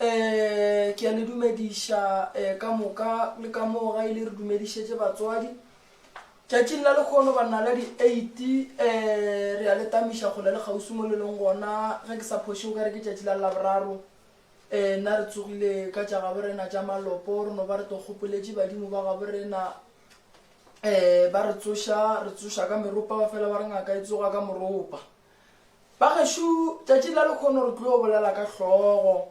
Ee, ke a le dumediša eh, ka moka le ka moo ga ile re dumedišetše batswadi. Tšatšing la lekgono banna la di-eight eh, re a le tamiša kgole le kgauswi mo le leng gona ge ke sa phoše o ka re ke tšatši la laboraro eh, nna re tsogile ka tša gabo rena tša malopo re no ba re to gopoletše badimo ba gabo rena eh, ba re tsoša re tsoša ka meropa ba fela ba re ngaka e tsoga ka moropa Ba gašo tšatši la lekhono re tlo bolela ka hlogo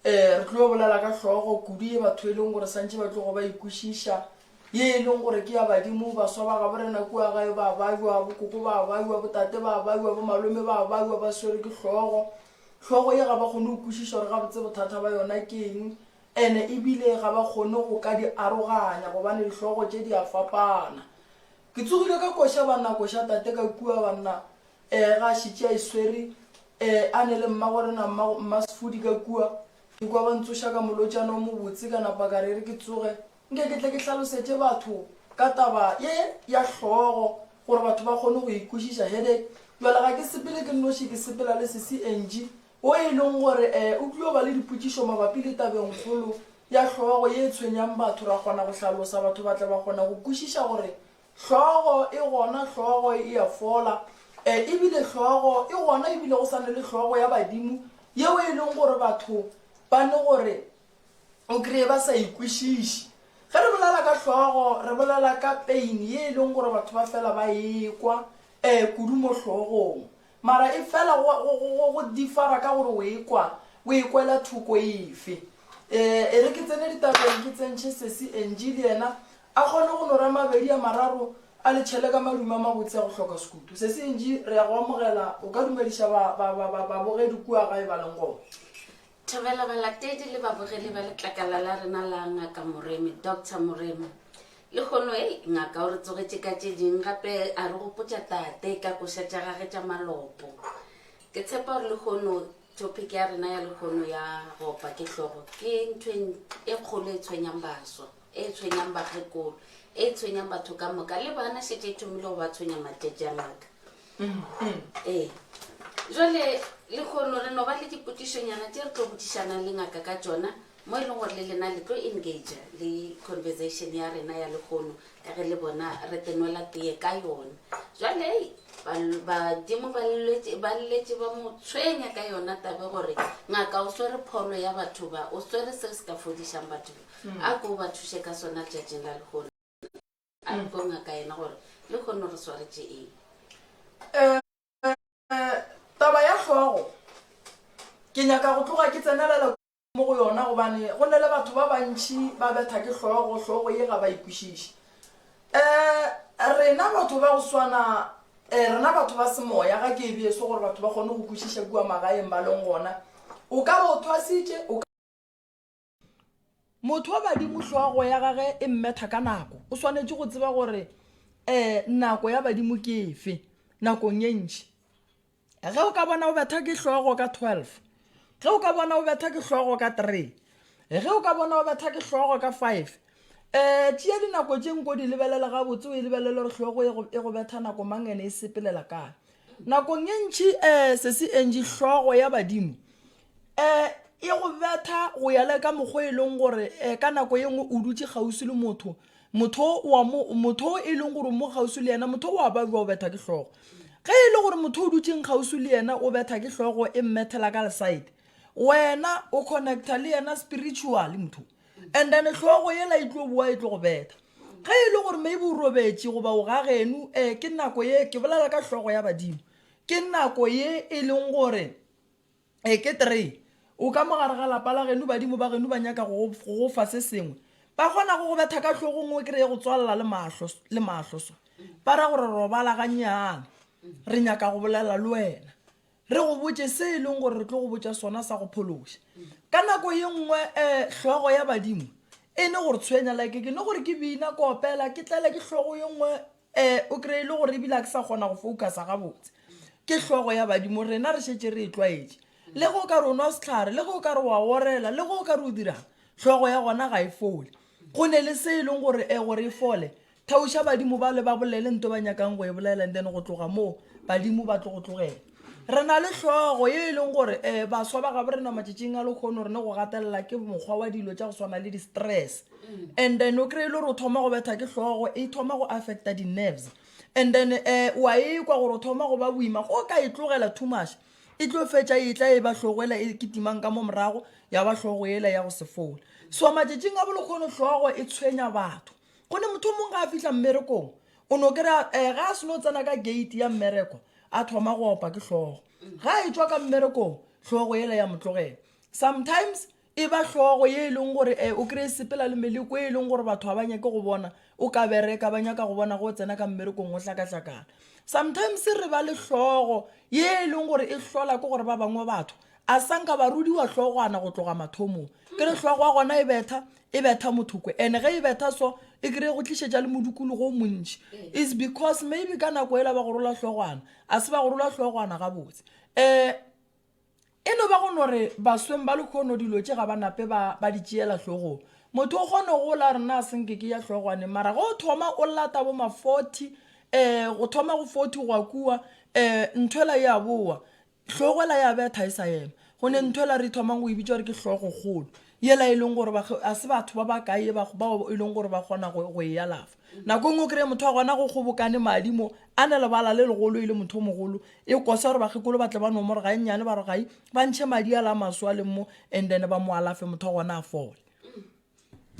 eh re tlo bolela ka hlogo kudu ye batho e leng gore santše ba tlogo ba ikwešiša ye e leng gore ke ya badimo baswa ba gabo rena kua gae ba baywa bokoko ba baywa botate ba baywa bo malome ba baywa ba swere ke hlogo hlogo ye ga ba kgone go kwešiša gore gabotse bothata ba yona ke eng ene ebile ga ba kgone go ka di aroganya gobane dihlogo tše di a fapana Ke tsogile ka koša banna koša tate ka kua banna eh ga šitše a iswere eh a ne le mmago rena mma mma sefodi ka kua ke kwa ba ntsoša ka molotšana o mobotse ka napa ka rere ke tsoge nke ke tle ke hlalosetše batho ka taba ye ya hlogo gore batho ba kgone go ikwešiša headache jwale ga ke sepele ke nnoši ke sepela le sesi Angie wo e leng gore e o tlio ba le dipotšišo mabapi le tabengkgolo ya hlogo ye e tshwenyang batho, ra kgona go hlalosa, batho ba tla ba kgona go kwešiša gore hlogo e gona, hlogo e a fola, e ebile hlogo e gona ebile go sa ne le hlogo ya badimo yeo e leng gore batho ba ne gore o kreye ba sa e kwešiše. Ge re bolela ka hlogo, re bolela ka pain ye e leng gore batho ba fela ba e kwa e kudu mo hlogong. Mara e fela go, go, go, go, go differa ka gore o e kwa, o e kwela thoko efe. E, e re ke tsene ditabeng ke tsentšhe Sesi Angie le yena a kgone go no ra mabedi a mararo a le tšhele ka madume a mabotse a go hloka sekutu. Sesi Angie, re ya go amogela, o ka dumediša ba, ba, ba, ba, babogedi kua gae ba leng gona. Thobela balatedi le babogedi ba letlakala la rena la Ngaka Moremi, Doctor Moremi. Lehono, hei, Ngaka o re tsogetše ka tše ding gape a re gopotša Tate ka koša tša gage tša malopo. Ke tshepa gore lehono topic ya rena ya lehono ya go opa ke hlogo ke ntho e n- e kgolo e tshwenyang baswa, e tshwenyang bakgekolo, e tshwenyang batho ka moka le bana šetše e thomile go ba tshwenya matšatši a Ngaka. ee jale lekgono re no ba le dipotišonyana tše re tlo botišanang le ngaka ka tšona mo e leng gore le lena le tlo engage le conversation ya rena ya lekgono ka ge le bona re tenwela teye ka yona jale badimo ba lletše ba mo tshwenya ka yona tabe gore ngaka o swere pholo ya batho ba o swere se se ka fodišang batho ba mm. a ko ba thuše ka sona letšatšing la lekgono A re go ngaka yena gore le kgonne re swaretše eng. Eh, taba ya hlogo ke nyaka go tloga ke tsenelele mo go yona gobane go ne le batho ba bantši ba betha ke hlogo hlogo ye ga ba ikwešiše eh, um rena batho ba go swana um rena batho ba semoya ga ke ebeso gore batho ba kgone go kwešiša kua magaeng ba leng gona o ka ba o thwasitše motho wa badimo hlogo ya gage e mmetha ka nako o swanetše go tseba gore um nako ya badimo ke efe nakong e ntši ge o ka bona o betha ke hlogo ka twelve ge o ka bona o betha ke hlogo ka three ge o ka bona o betha ke hlogo ka five um tšea dinako tše nko di lebelela gabotse o e lebelele gore hlogo e, e go betha nako mang ene e sepelela kae nakong e ntšhi um sesi entši hlogo ya badimo E, e go betha go ya le ka mokgwa e leng gore e, ka nako ye nngwe o dutše kgauswi le motho motho wa mo motho e leng gore mo kgauswi le yena motho wa ba jwa o betha ke hlogo ge e le gore motho o dutseng kgauswi le yena o betha ke hlogo e mmethela ka leside wena o connecta le yena spiritually motho and then hlogo yela e tlo boa e tlo go betha ge e le gore maybe o robetše goba o ga genu um ke nako ye ke bolela ka hlogo ya badimo ke nako ye e leng gore e ke three o ka mogare ga lapa la genu badimo ba genu ba nyaka go go fa se sengwe ba kgona go go betha ka tlhogong o kry-e go tswalela le mahlo le mahlo so ba ra gore robala gannyane re nyaka go bolela le wena re go botse se e leng gore re tlo go botsa sona sa go phološa ka nako ye nngwe um hlogo ya badimo e ne gore tshwenya like ke ne gore ke bina kopela ke tlele ke hlogo ye nngwe Ee, o kry e le gore ebile a ke sa kgona go focusa gabotse. Ke hlogo ya badimo, rena re šetše re e tlwaetše. Le ge o ka re o nwa sehlare, le ge o ka re wa orela, le ge o ka re o dirang, hlogo ya gona ga e fole. Go ne le se e leng gore e gore e fole, theoša badimo bale ba bolele nto ba nyakang go e bolela and then go tloga moo badimo ba tlo go tlogela. Re na le hlogo ye e leng gore um baswa ba gabo rena matšatšing a lekgono re ne go gatelela ke mokgwa wa dilo tša go swana le di-stress. and then o kry-e le gore o thoma go betha ke tlhogo e thoma go affecta di-nerves and then um wa ekwa gore o thoma go ba boima go ka e tlogela too much e tlo fetša e tla e ba tlhogo ela e ketimang ka mo morago ya ba tlhogo ela ya go se fola so matšatšing a bolokgono tlhogo e tshwenya batho go ne motho o mongwe ga a fitlha mmerekong o no kry-a um ga a seno tsena ka gate ya mmereko a thoma go opa ke tlhogo ga e tswa ka mmerekong tlhogo ela ya motlogela sometimes e ba hlogo ye e leng gore um o kry-e sepela le meleko e e leng gore batho ga ba nyake go bona o ka bereka ba nyaka go bona go tsena ka mmerekong go hlakahlakana sometimes re ba le hlogo ye e leng gore e hlola ke gore ba bangwe batho a sanka ba rudiwa hlogwana go tloga mathomong ke re hlogo wa gona e betha e betha mothokwe and-e ge e betha so e kry-e go tlišetša le modukologo o montši is because maybe ka nako e la ba go rola hlogwana a se ba go rola hlogwana gabotse um E no ba go no re basweng ba lekhono dilo tše ga ba nape ba, ba di tšeela hlogong. Motho o kgone go la re na se nke ke ya hlogwane mara ge o thoma o lata bo ma 40 um go thoma go 40 go a kua um ntho ela ya bowa hlogo ela ya betha e sa ema go ne ntho ela re thomang go e bitša gore ke hlogokgolo yela e leng gore ga se batho ba ba kae bao e leng gore ba kgona go e alafa Nako e nngwe o kry-e motho a gona go kgobokane madi mo, a ne lebala le legolo e le motho o mogolo, e kosa gore bakgekolo ba tle ba nomore ga e nnyane ba re gai, ba ntšhe madi a la a maswe a leng mo and then ba mo alafe motho a gona a fole.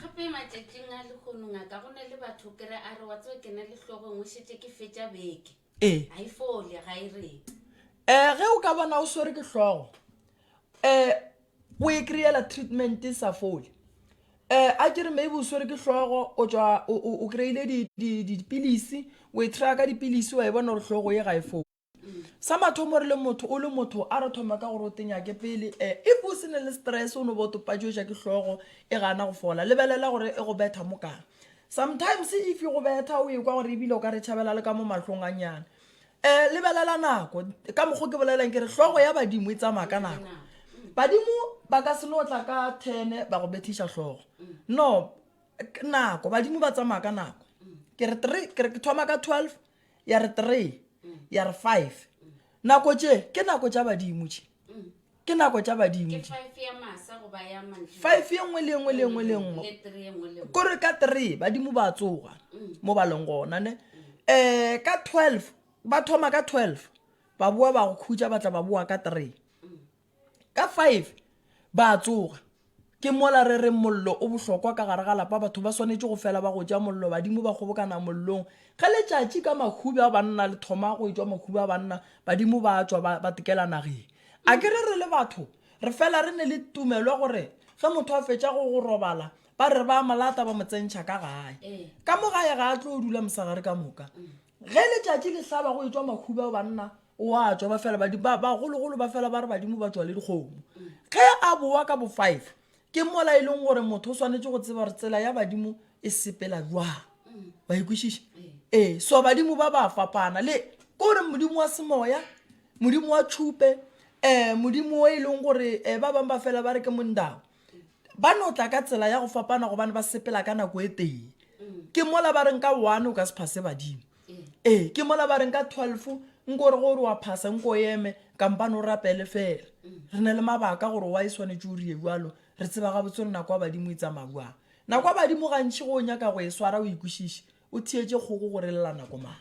Gape matšatšing a lehono ngaka go na le batho o kry-e a re wa tseba ke na le hlogo e nngwe šetše ke fetša beke. ee ga e fole ga e rete um ge o ka bona o swere ke hlogo um o e kry-ela treatment e sa fole um a ke re maybe o swere ke hlogo o tswa o- o o kry-ile di- di- di- dipilisi o e try ka dipilisi wa e bona gore hlogo ye ga e fole sa mathomo re le motho o le motho a re thoma ka gore o tenyake pele um if o se ne le stress o no bo topatšoša ke hlogo e gana go fola lebelela gore e go betha mo kang Sometimes if go betha o ekwa gore ebile o ka re tšhabela le ka mo mahlong a nyana. Eh lebelela nako ka mokgo ke bolelang ke re hlogo ya badimo e tsamaya ka nako. Badimo ba ka se no tla ka 10 ba go bethiša hlogo. No nako badimo ba tsamaya ka nako. Ke re 3 ke re ke thoma ka 12 ya re 3 ya re 5 nako tše ke nako tša badimo tše. ke nako tša badimo five ye nngwe le engwe le engwe le engwe kore ka three badimo ba tsoga mm. mo ba leng gona ne um ka twelve ba thoma ka twelve ba boa ba go khutša ba tla ba boa ka three mm. ka five ba tsoga Ke mola re reng mollo o bohlokwa ka gare ga lapa. Batho ba swanetše go fela ba go ja mollo. Badimo ba kgobokana mollong. Ge letšatši ka mahubi a banna le thoma go etšwa mahubi a banna, badimo ba a tšwa ba, ba tekela nageng. A ke re re le batho re fela re ne le tumelo ya gore ge motho a fetša go, go robala, ba re ba a mo lata ba mo tsentšha ka gae. Ka mo gae ga a tlo dula mosegare ka moka. Ge letšatši le hlaba go etšwa mahubi a banna, o a tswa ba fela badimo ba- bagologolo ba fela ba re badimo ba tswa le dikgomo ge a bowa ka bo five ke mola e leng gore motho o swanetše go tseba gore tsela ya badimo e sepela jwang ba ikwešiša ee so badimo ba ba fapana le ke gore modimo wa semoya modimo wa tšhupe um modimo o e leng gore um ba bangwe ba fela ba re ke mondao ba no tla ka tsela ya go fapana gobane ba sepela ka nako e tee ke mola ba reng ka one o ka se phase badimo ee ke mola ba reng ka twelve nko gore gore wa phasa nko eme kampane o rapele fela re na le mabaka gore wa e swanetse o rie jalo re tseba ga botse re nako ya badimo e tsamauang nako ya badimo gantšhi go o nyaka go e swara o ikwešiše o theetse kgoko gore lela nako mang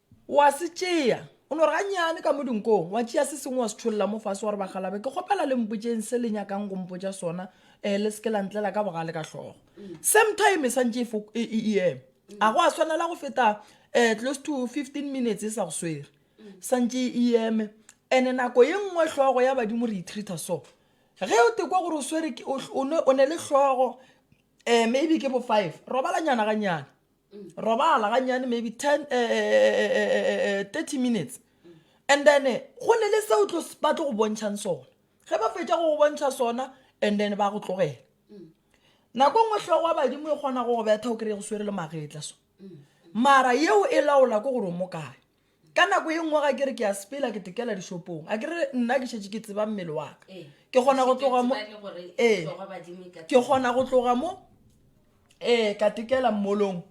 O a se tšea, o no re gannyane ka mo dinkong, wa tšea se sengwe wa se tšholla mo fase wa re ba galabe, ke kgopela le mpotšeng se le nyakang go mpotša sona, um le se ke la ntlela ka bogale ka hlogo. Same time e santše e, e, e, e ema. A go a swanela go feta um close to fifteen minutes e sa go swere santše e eme ene nako ye nngwe hlogo ya badimo re itreata so ge o tekwa gore o swere o ne le hlogo um maybe ke bo five robalanyana ganyana robala ganyane maybe 10 eh, eh, 30 minutes and then go ne le seo ba tlo go bontšhang sona ge ba fetša go go bontšha sona and then ba go tlogela nako nngwe tlhogo wa badimo e kgona go go betha o kry-e go swere le magetla so mara yeo e laola ko gore o mo kae ka nako ye nngwe ga ke re ke a sepela ke tekela dishopong a ke re nna ke šetse ke tseba mmele wa ka ee. ke kgona go tloga mo ee ke kgona go tloga mo ee ka tekela mmolong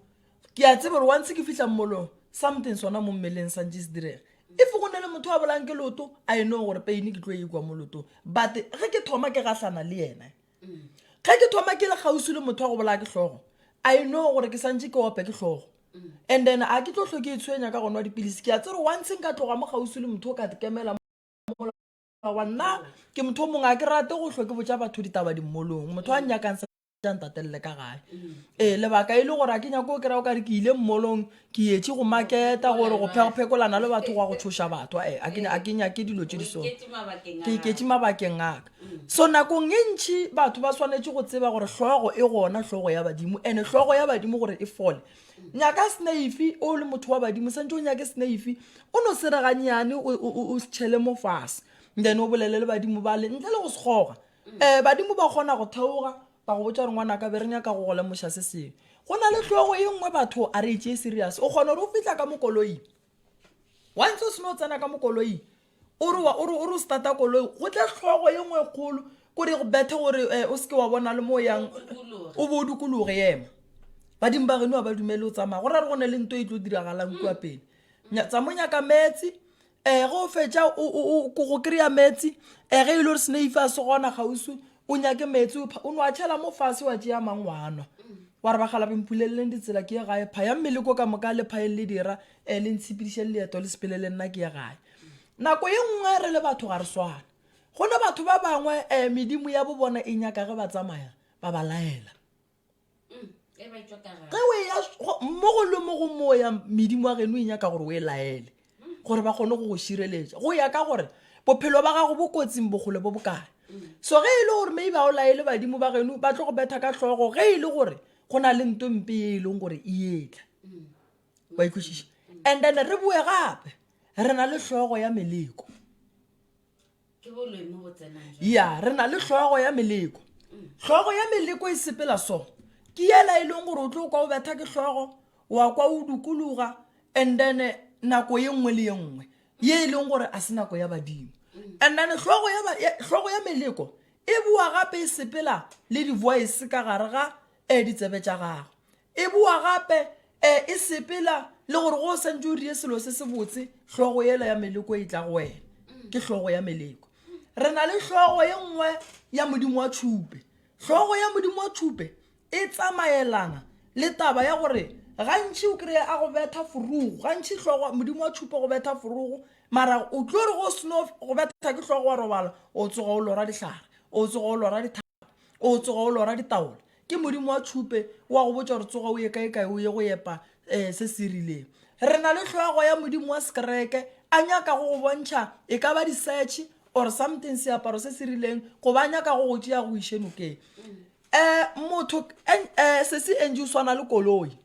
ke a tsebe gore once ke fitlha mmolong something sona mo mmeleng santse se direga if go ne le motho a bolang ke loto a e nong gore paine ke tlo e kwa mo lotong but ge ke thoma ke gahlana le ene ge ke thoma ke le kgausi le motho wa go bolaya ke hlogo i know gore ke santse ke ope ke hlogo and then a ke tlo tlho ke e tshwenya ka gona wa dipilisi ke a tsere once nka tloga mo kgausi le motho o ka dikemela wa nna ke motho o mongwe a ke rate go tlho ke botsa batho ditaba dimmolong motho a nyakang sa ntatelele ka gae ee lebaka e le gore a ke nyako o kry-a o kare ke ile mmolong ke yetše go maketa gore go phekophekolana le batho gwa go tshoša batho eh, a ke nyake dilo tše di so ke iketše mabakeng aka mm. so nakong e ntšhi batho ba swanetše go tseba gore hlogo e gona hlogo ya badimo and hlogo ya badimo gore e fole nyaka snaife o le motho wa badimo santse o nyake snaife o no sereganyane o setšhele mo fase then o bolele le badimo bale ntle le go sekgoga um mm. eh, badimo ba kgona go theoga Ba go botša gore ngwanaka be re nyaka go go lemoša se sengwe. Go na le tlogo e nngwe batho a re e tšee serious. O kgona gore o fitlha ka mo koloing. Once o seno tsena ka mo koloing o re o re o re o starta koloi go tle tlhogo e nngwe e kgolo kore go bethe gore um o seke wa bona le mo yang o bo o dikologe ema badimo ba geno ga ba dumele o tsamaya go ra re go ne le nto e tlo diragalang kua pele tsa mo nyaka meetse um ge o fetša go kry-a meetse um ge e le gore seneife a se gona kgauswi o nyake meetse o no a tšhela mo fase wa tšea mang wa nwa wa re bagala bempuleleleng ditsela ke ye gae pha ya mmele ko ka moka le phaeng le dira um le ntshepediše le leeto le sepele le nna ke ye gae nako ye nngwe re le batho ga re swana go ne batho ba bangwe um medimo ya bo bona e nyaka ge ba tsamaya ba ba laela ge o eya mo go le mo go moya medimo wa geno e nyaka gore o e laele gore ba kgone go go šireletša go ya ka gore bophelo ba gago bo kotsing bokgole bo bokae so ge e le gore maybe a o laele badimo ba geno ba tlo go betha ka tlhogo ge e le gore go na le nto mpe e e leng gore e etla wa ikwešiša and then re boe gape re na le tlhogo ya meleko ya re na le hlogo ya meleko hlogo ya meleko e sepela so ke yela e leng gore o tlo kwa o betha ke hlogo wa kwa o dukologa and then eh, nako ye nngwe le ye nngwe ye e leng gore a se nako ya badimo and then hlogo ya ba- ya- hlogo ya meleko e boa gape e sepela le di-voice ka gare ga um ditsebe tša gago E boa gape e e sepela le gore go o santse o rie selo se se botse, hlogo yela ya meleko e tla go wena. Ke hlogo ya meleko. Re na le hlogo ye nngwe ya Modimo wa tšhupe. Hlogo ya Modimo wa tšhupe e tsamaelana le taba ya gore gantši o kry-e a go betha forogo gantši hlogo modimo wa tšhupa go betha forogo mara o tlo re go seno go betha ke hlogo wa robala o tsoga o lora dihlare o tsoga o lora ditha o tsoga o lora ditaola ke modimo wa tšhupe wa go botša gore tsoga o ye kae kae o ye go epa um se se rileng re na le tlhoago ya modimo wa sekereke a nyaka go go bontšha e ka ba di-search or something seaparo se se rileng go ba nyaka go go tšea go iše nokeng um motho um sese eng o swana le koloi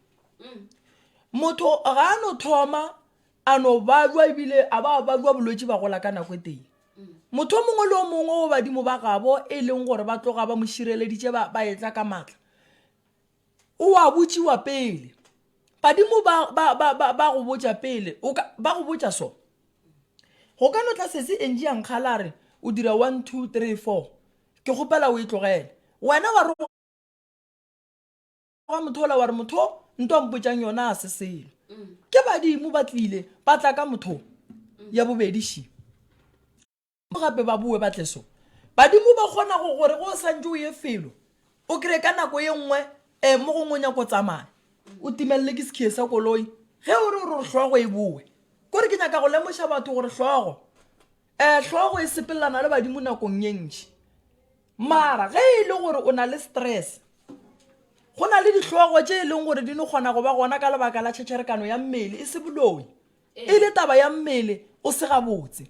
motho ga a no thoma a no balwa ebile a ba balwa bolwetši ba gola ka nako e tee motho o mongwe le o mongwe o badimo ba gabo e leng gore ba tloga ba mo šireleditše ba ba etla ka maatla o a botšiwa pele badimo ba ba ba ba ba go botša pele o ka ba go botša so go ka no tla sese eng ya nkgala a re o dira one two three four ke kgopela o e tlogele wena wa re wa motho ola wa re motho nto a mpotšang yona a se selo ke badimo ba tlile ba tla ka motho ya bobedi shi gape ba boe ba tle so badimo ba kgona go gore go santse o ye felo o kry ka nako ye nngwe um mo gongwe o nyako tsamaya o timelele ke sekhiye sa koloi ge o re o re tlhogo e boe kore ke nyaka go lemoša batho gore tlhogo um tlhogo e sepelelana le badimo nakong ye ntši Mara ge e le gore o na le stress, go na le dihlogo tše e leng gore di no kgona go ba gona ka lebaka la tšhetšherekano ya mmele, e se boloi. E le taba ya mmele o se gabotse.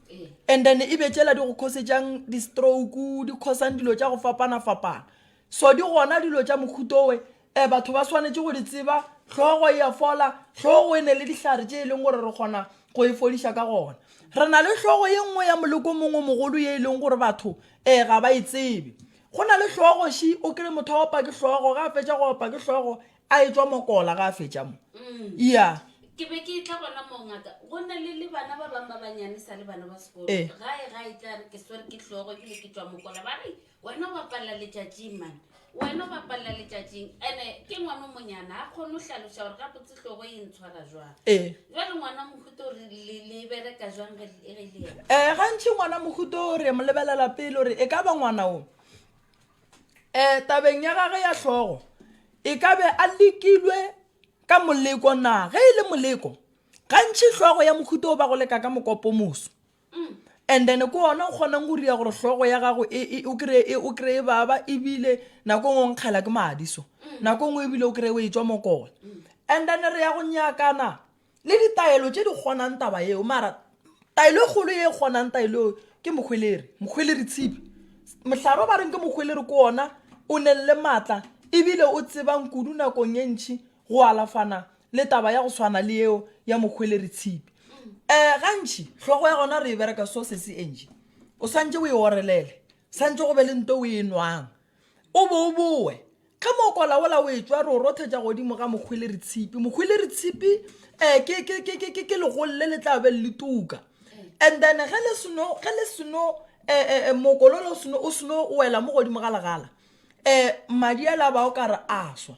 And then e be tšela di go khosetšang di-stroke, di khosang dilo tša go fapana-fapana. So di gona dilo tša mohuto we E, batho ba swanetše go di tseba, hlogo e ya fola, hlogo e ne le dihlare tše e leng gore re kgona go e fodiša ka gona. Re na le hlogo ye nngwe ya moleko mongwe mogolo ye e leng gore batho e ga ba e tsebe. Go na le hlogo shi o kry motho a opa ke hlogo ga a fetša go opa ke hlogo a e tswa mokola ga a fetša mo Mm. ya ke be ke tla gona moo ngaka go na le le bana ba bangwe ba banyane sa le bana ba sekolo Eh. gae ga e tla re ke swere ke hlogo ebile ke tswa mokola ba re Wena o bapalela letšatšing, man. Wena o bapalela letšatšing. Ene ke ngwana o monyana, ga kgone go hlaloša gore gabotse hlogo e ntshwara jwang. Ee. Jwale ngwana wa mohuta o re le, le bereka jwang ge le- ge e le yena? um gantši ngwana mohuto o re mo lebelela pele gore e ka ba ngwana o um tabeng ya gage ya hlogo e ka be a lekilwe ka moleko na ge e le moleko gantši hlogo ya mohuto o ba go leka ka mokopomoso and then ko ona o kgonang go ria gore hlogo ya gago e- e- o kry- e- o kry-e baba ebile nako ngwe o nkgela ke madi so nako ngwe ebile o kry o e tswa mokole and then re ya go nyakana le ditaelo tše di kgonang taba yeo mara taelo e kgolo ye e kgonang taelo eo ke mokgweleri mokgweleri tshipi mohlaro ba reng ke mokgweleri ko ona o nelele maatla ebile o tsebang kudu nakong e ntšhi go alafana le taba ya go swana le yeo ya mohweleri tshipi um gantši hlogo ya gona re e bereka so se se enje o swantse o e orelele swantse go be le nto o e nwang o bo o bowe ge mo kolaola o e tswa re o rothetša godimo ga mohweleri tshipi mohweleri tshipi um ke, ke, ke, ke, ke, ke legolo le le tla be le tuka and then ge le seno ge le seno um mokololo o seno o seno wela mo godimo ga legala um madi a la ba o ka re a swa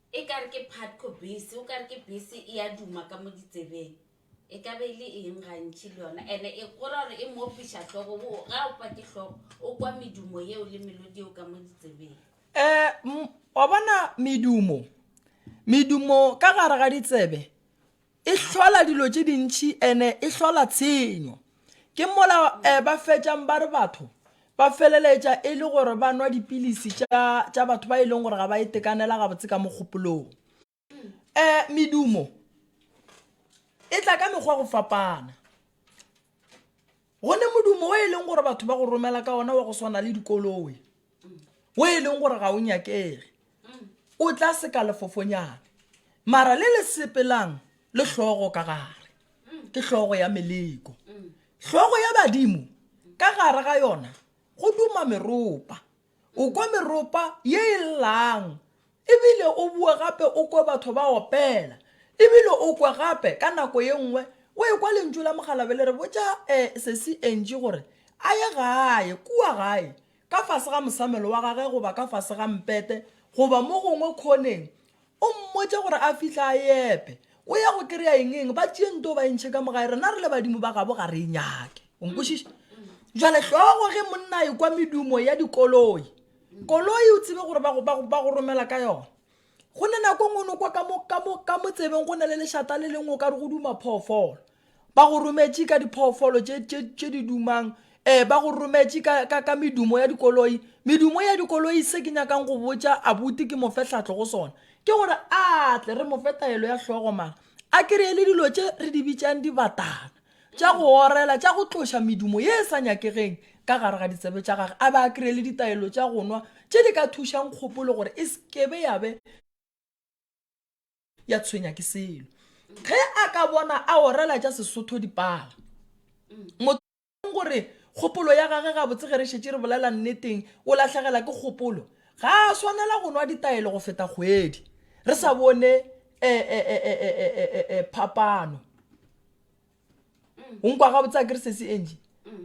E ka re ke Phatco bese, o ka re ke bese e a duma ka mo ditsebeng. E ka be e le eng gantši le yona? And-e e go ra gore e mo opiša hlogo, o ga opa ke hlogo, o kwa medumo yeo le melodi yeo ka mo ditsebeng. Um, wa bona medumo, medumo ka gare ga ditsebe, E hlola dilo tše dintši ene e hlola tshenyo. Ke mola eh, ba fetšang ba re batho ba feleletša e le gore ba nwa dipilisi tša, tša batho ba e leng gore ga ba itekanela gabotse ka mogopolong. Eh, medumo e tla ka mekgwa go fapana. gone modumo o e leng gore batho ba go romela ka ona wa go swana le dikoloe o e leng gore ga o nyakege o tla seka lefofonyane mara le le sepelang le hlogo ka gare ke hlogo ya meleko hlogo ya badimo ka gare ga yona go duma meropa O kwa meropa ye e llang, e bile o boe gape o kwe batho ba opela. E bile o kwe gape, ka nako ye nngwe, o ekwa lentšu la mokgalabje le re, Botša eh, Sesi Angie gore a ye gae, kua gae, ka fase ga mosamelo wa gage goba ka fase ga mpete, goba mo gongwe khoneng, O mmotše gore a fihla a e epe. O ya go kry-a eng eng? Ba tšee nto ba e ntšhe ka mogae. Rena re le badimo ba gabo ga re e nyake. O nkwešiša? Jale hlogo ge monna e kwa medumo ya dikoloi. Koloi o tsebe gore ba go, ba go, ba go romela ka yona. Go ne nako e nngwe o no kwa ka mo, ka mo, ka mo tsebeng go na le lešata le lengwe o ka re go duma phoofolo. Ba go rometše ka diphoofolo tše, tše, tše di dumang eh ba go rometše ka, ka, ka medumo ya dikoloi medumo ya dikoloi se ke nyakang go botša abuti ke mofe tlhatlo go sona ke gore a tle re mofe taelo ya hlogo mara a kry-e le dilo tše re di bitšang dibatana tša go orela tša go tloša medumo ye e sa nyakegeng ka gare ga ditsebe tša gage a ba a kry-e le ditaelo tša go nwa tše di ka thušang kgopolo gore e sekebe ya be ya tshwenya ke selo ge a ka bona a orela tša sesotho dipala motho gore kgopolo ya gage ga botse ge re šetse re bolela nneteng o lahlegela ke kgopolo ga a swanela go nwa ditaelo go feta kgwedi re sa bone phapano o nkwa gabotse a kere sesi eng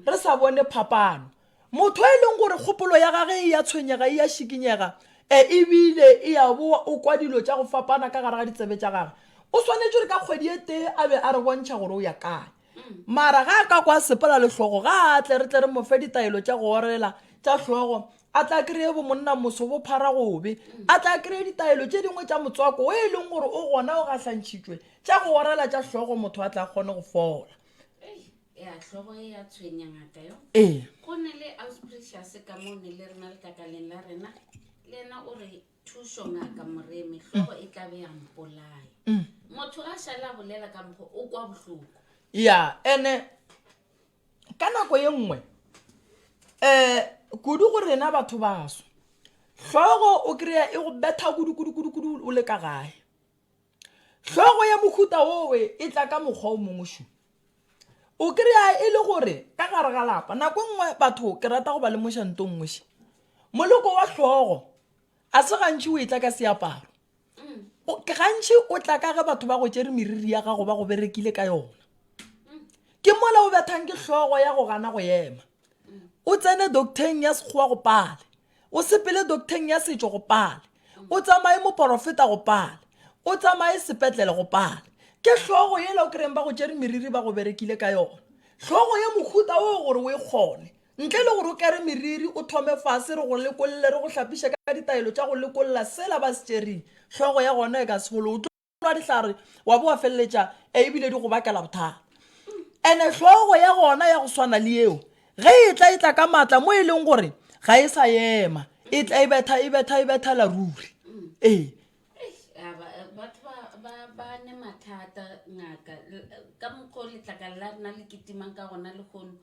re sa bone phapano motho e leng gore kgopolo ya gage e ya tshwenyega e ya šikinyega e ebile e ya boa o kwa dilo tša go fapana ka gare ga ditsebe tša gage o swanetše gore ka kgwedi e tee a be a re bontšha gore o ya kae mara ga a ka kwa sepela lehlogo ga a tle re tle re mofe ditaelo tša go orela tša hlogo a tla kry-e bo monna moso bo phara gobe a tla kry-e ditaelo tše dingwe tša motswako o e leng gore o gona o gahlantšhitšwe Tša go orala tša hlogo motho a tla kgone go fola. Ei, ea hlogo e a tshwenya ngaka yo. Ee. Go na le Ausprecious ka mo ne le rena lekakaleng la rena, le yena o re, Thušo ngaka Moremi, hlogo e tla be ya mpolaya. Motho a šale a bolela ka mokgo o kwa bohloko. Ea, ene ka nako ye nngwe, um kudu go rena batho baso, hlogo o krea e go betha kudu-kudu-kudu-kudu o le ka gae. Hlogo ya mohuta wo e tla ka mokgwa o mongwe šo. O kry-a e le gore ka gare ga lapa nako e nngwe batho ke rata go ba lemoša nto nngwe še. Moloko wa hlogo a se gantši o e tla ka seaparo. Gantši o tla ka ge batho ba go tšere meriri ya gago ba go berekile ka yona. Ke mola o bethang ke hlogo ya go gana go ema. O tsene doctor-eng ya Sekgowa go pale. O sepele doktheng ya setšo go pale. O tsamaye moporofeta go pale. O tsamaye sepetlele go pale. Ke hlogo yela o kreyeng ba go tšere meriri ba go berekile ka yona. Hlogo ye mohuta woo gore o e kgone. Ntle le gore o kere meriri, o thome fase, re go lekolle, re go hlapiše ka ditaelo tša go lekolla sela ba se tšereng, hlogo ya gona e ka se fole. nwa dihlare wa bo wa feleletša ebile di go bakela bothata ene hlogo ya gona ya go swana le yeo ge e tla e tla ka maatla mo e leng gore ga e sa ema e tla e betha e betha e betha la ruri ee mathata ngaka ka mokgwa o letlakala la rena le ketimang ka gona legono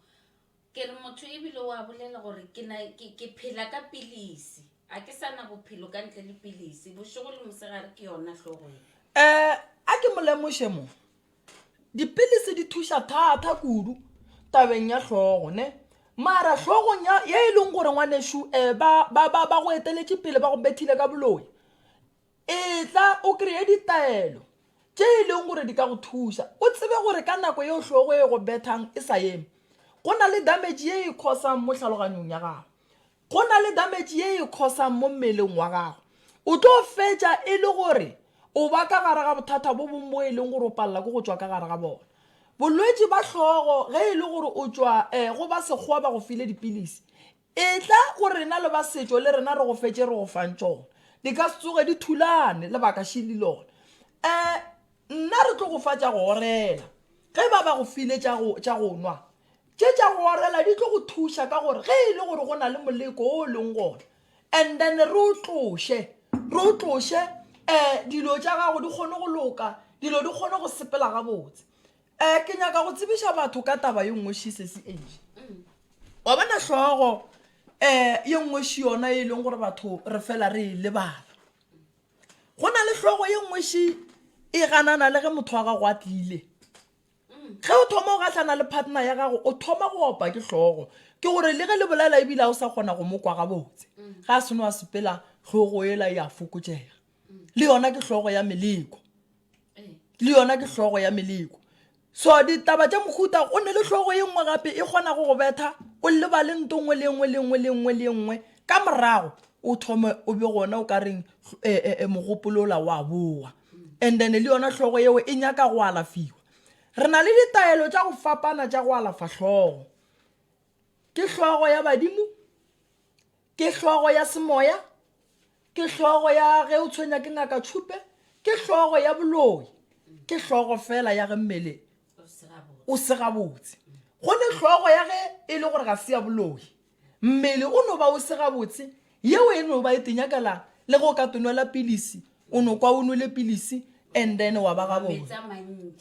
Ke re motho e bile o a bolela gore ke na ke ke phela ka pilisi. A ke sa na bophelo ka ntle le pilisi. Bošego le mosegare ke yona hlogo ye. Eh, a ke mo lemoše mo. Dipilisi di thuša thata kudu tabeng ya hlogo, ne. Mara hlogong ya ye e leng gore ngwanešu eh ba ba ba ba go eteletše pele ba go bethile ka boloi. Etla o kreye ditaelo tše e lego gore di ka go thuša o tsebe gore ka nako yeo hlogo e go bethang e sa eme, go na le damage ye e khosang mo tlhaloganyong ya gago. Go na le damage ye e khosang mo mmeleng wa gago. O tlo fetša e le gore o ba ka gare ga bothata bo bong bo e leng gore o palela ke go tšwa ka gare ga bona. Bolwetši ba hlogo ge e le gore o tšwa um go ba sekgowa ba go file dipilisi, Etla go rena le ba setšo le rena re go fe tše re go fang tšona. Di ka se tsoge di thulane, lebaka šili lona. Um nna re tlo go fa tša go orela. Ge ba ba go file tša go, tša go nwa, tše tša go orela di tlo go thuša ka gore ge e le gore go na le moleko wo o leng gona, and then re o tloše, re o tloše, um dilo tša gago di kgone go loka, dilo di kgone go sepela gabotse. um ke nyaka go tsebiša batho ka taba ye nngwe shisesi age wa bona hlogo um ye nngwe shi yona e leng gore batho re fela re e lebala go na le hlogo ye nngwe shi e ganana le ge motho wa gago a tlile ge o thoma o gahlana le partner ya gago o thoma go opa ke hlogo ke gore le ge le bolela ebile a o sa kgona go mokwa gabotse ga a seno a sepela hlogo ela ya fokotšega le yona ke hlogo ya meleko le yona ke hlogo ya meleko so ditaba tša mohuta o ne le hlogo ye nngwe gape e kgonago go betha o lebale nto nngwe le nngwe le nngwe le nngwe le nngwe ka morago o thome o be gona o ka reng um eh, eh, eh, mogopolola wa bowa and then le yona hlogo yeo e nyaka go alafiwa re na le ditaelo tša go fapana tša go alafa hlogo ke hlogo ya badimo ke hlogo ya semoya ke hlogo ya ge o tshwenya ke ngaka tšhupe ke hlogo ya boloi ke hlogo fela ya ge mmele o se gabotse go ne hlogo ya ge e le gore ga se ya boloi mmele o no ba o se gabotse yeo e no ba e tenyakela le go ka tonwela pilisi o no kwa o nwele pilisi and then wa ba gabone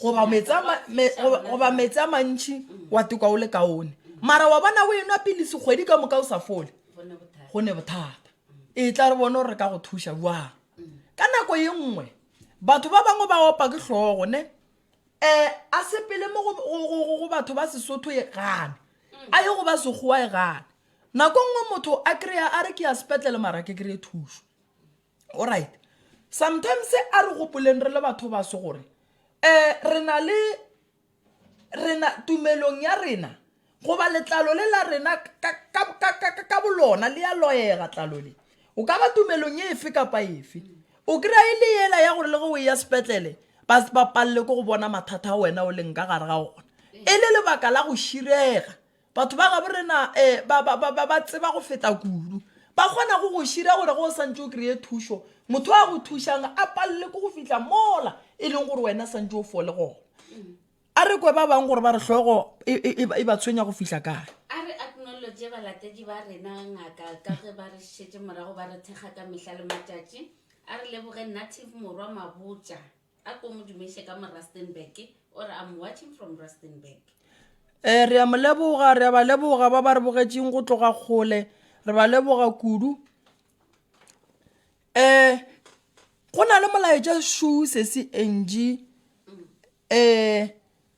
goba metsi a mantšhi mm. wa tekwa o le kaone mara wa bona o enwa pilisi kgwedi ka moka o sa fole go ne bothata e tla re bone gore re ka go thuša jwang ka nako ye nngwe batho ba bangwe ba opa ke tlhogo ne um a sepele mo go batho ba sesotho e gane mm. a ye go ba segowa e gane nako nngwe motho a kry-a a re ke ya sepetlele mara ke kry-e thuso Alright. Sometimes a re gopoleng re le batho ba se gore eh re na le rena tumelong ya rena goba letlalo le la rena ka bolona le ya loyega tlalo le o ka ba tumelong e efe kapa efe o kry-a e le yela ya gore le ge o ya sepetlele ba se ba palele ko go bona mathata a wena o leng ka gare ga ona e le lebaka la go širega Batho ba gabo rena ba, ba, ba, ba, ba tseba go feta kudu. Ba kgona go go šira gore go o santše o kreye thušo, motho a go thušang a palele ko go fihla mola e leng gore wena santše o fole gona. A re kwe ba bang gore ba re hlogo e, e, e, e ba tshwenya go fihla kae. A re aknolotše balatedi ba rena ngaka ka ge ba re šetše morago ba re thekga ka mehla le matšatši. A re leboge Native Morwa Mabotja. A ko mo dumeše ka mo Rustenburg, o re, I'm watching from Rustenburg. E, re a mo leboga, re a ba leboga ba ba re bogetšeng go tloga kgole, re ba leboga kudu. E, go na le molaetša šuu sesi Angie, e,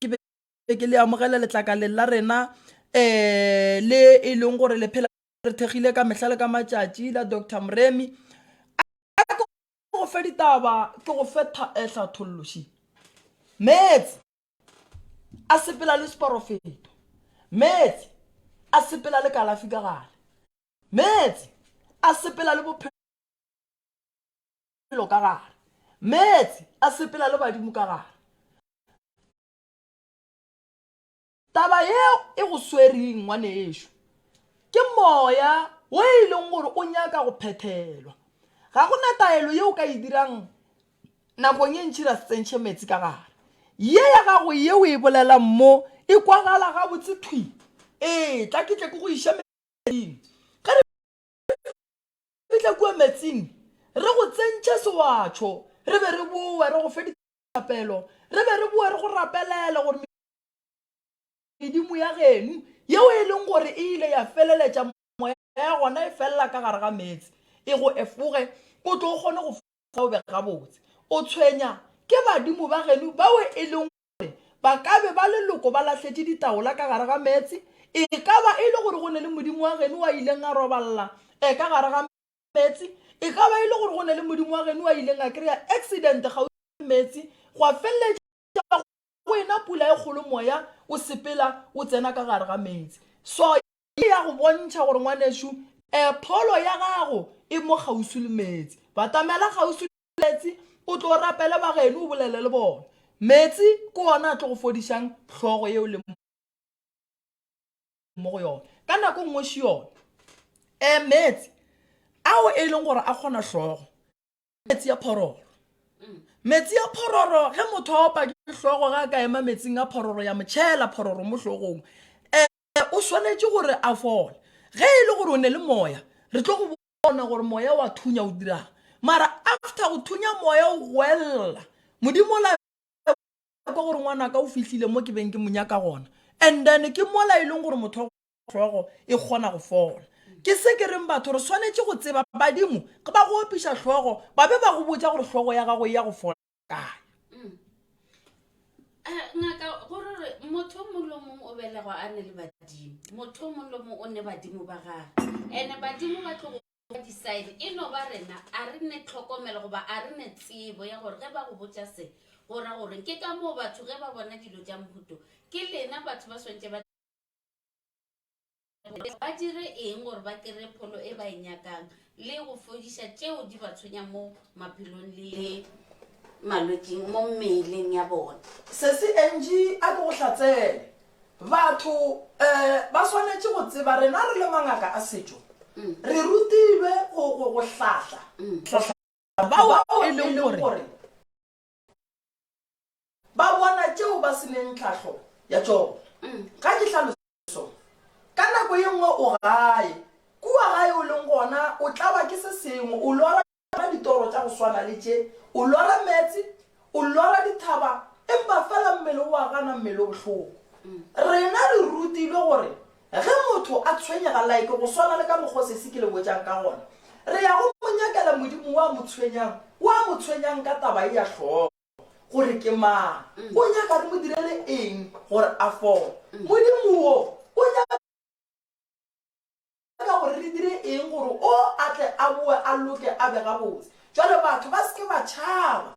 ke be ke le amogela letlakaleng la rena um le e leng gore le phela re thekgile ka mehla le ka matšatši la dr moremi go fe ditaba ke go fe eh, hlatholloši meetse a sepela le seporofeto meetse a sepela le kalafi ka gale meetse a sepela le bophelo bophelo ka gare, meetse a sepela le badimo ka gare. Taba yeo e go swereng, ngwanešu, ke moya wo e leng gore o nyaka go phethelwa. Ga go na taelo yeo o ka e dirang nakong ye ntši ra se tsentšhe meetse ka gare. Ye ya gago ye o e bolelang mo e kwagala gabotse thwi. Ee, tla ke tle ke go iše meetseng. Ge re. fihla kua meetsing, re go tsentšha sewatšho, re be re bowe re go fe dithapelo, re be re bowe re go rapelela gore medimo ya geno yeo e leng gore e ile ya feleletša moya ya gona e felela ka gare ga meetse e go efoge o tlo o kgone go fa o be gabotse. O tshwenya ke badimo ba geno bao e leng gore ba ka be ba leloko ba lahletše ditaola ka gare ga meetse, e ka ba e le gore go ne le modimo wa geno wa ileng a robalela e ka gare ga meetse, e ka ba e le gore go ne le modimo wa geno wa ileng a kry-a accident kgauswi meetse, gwa feleletša go ena pula e kgolo moya o sepela o tsena ka gare ga meetse. So E ya go bontšha gore ngwanešu e, pholo ya gago e mo kgauswi le meetse. Batamela kgauswi le meetse, o tlo rapele bageno o bolele le bona. Meetse ke ona a tlo go fodišang hlogo ye o leng mo go yona. Ka nako e nngwe šiona e, meetse ao e leng gore a kgona hlogo, ke meetse a phororo. Meetse a phororo, ge motho a opa ke hlogo ge a ka ema meetseng a phororo ya mo tšhela phororo mo hlogong e, O swanetše gore a fole. Ge e le gore o ne le moya, re tlo go bona gore moya wa thunya o dirang. Mara after go thunya moya o goelela, Modimo o la kwa gore ngwanaka o fihlile mo ke beng ke mo nyaka gona. And then ke mola e leng gore motho hlogo e kgona go fola. Ke se ke reng batho re swanetše go tseba badimo ge ba go opiša hlogo ba be ba go botša gore hlogo ya gago e ya go fola. kae mm. eh, ngaka gore re motho o mongwe le mongwe o belegwa a ne le badimo motho o mongwe le mongwe o ne badimo ba gage and badimo ba tlogo decide e no ba rena a re ne tlhokomelo goba a re ne tsebo ya gore ge ba go botsa se go ra gore ke ka moo batho ge ba bona dilo tsa mohuto ke lena batho ba swantse ba gore ba dire eng gore ba kry-e pholo e ba e nyakang le go fodiša tšeo di ba tshwenyang mo maphelong le malwetsing mo mmeleng ya bona Sesi Angie a ke go hlatsele. Batho eh ba swanetše go tseba rena re le mangaka a setšo re rutilwe go go go hlahla go hlahla bao e leng gore Ba bona tšeo ba se neng tlhahlo ya tšona. Ga ke hlaloso. Ka nako ye nngwe o gae. Kua gae o leng gona, o tlawa ke se sengwe, o lora tšona ditoro tša go swana le tše, o lora meetse, o lora dithaba, empa feela mmele o a gana, mmele o bohloko. Rena re rutilwe gore Ge motho a tshwenyega, like go swana le ka mokgwa o sesi ke le botšang ka gona, re ya go mo nyakela modimo wo a mo tshwenyang, wo a mo tshwenyang ka taba ye ya hlogo, gore ke mang, o nyaka re mo direle eng gore a fole. Modimo wo o nyaka gore re dire eng gore o a tle a boe a loke a be gabotse. Jwale batho ba se ke ba tšhaba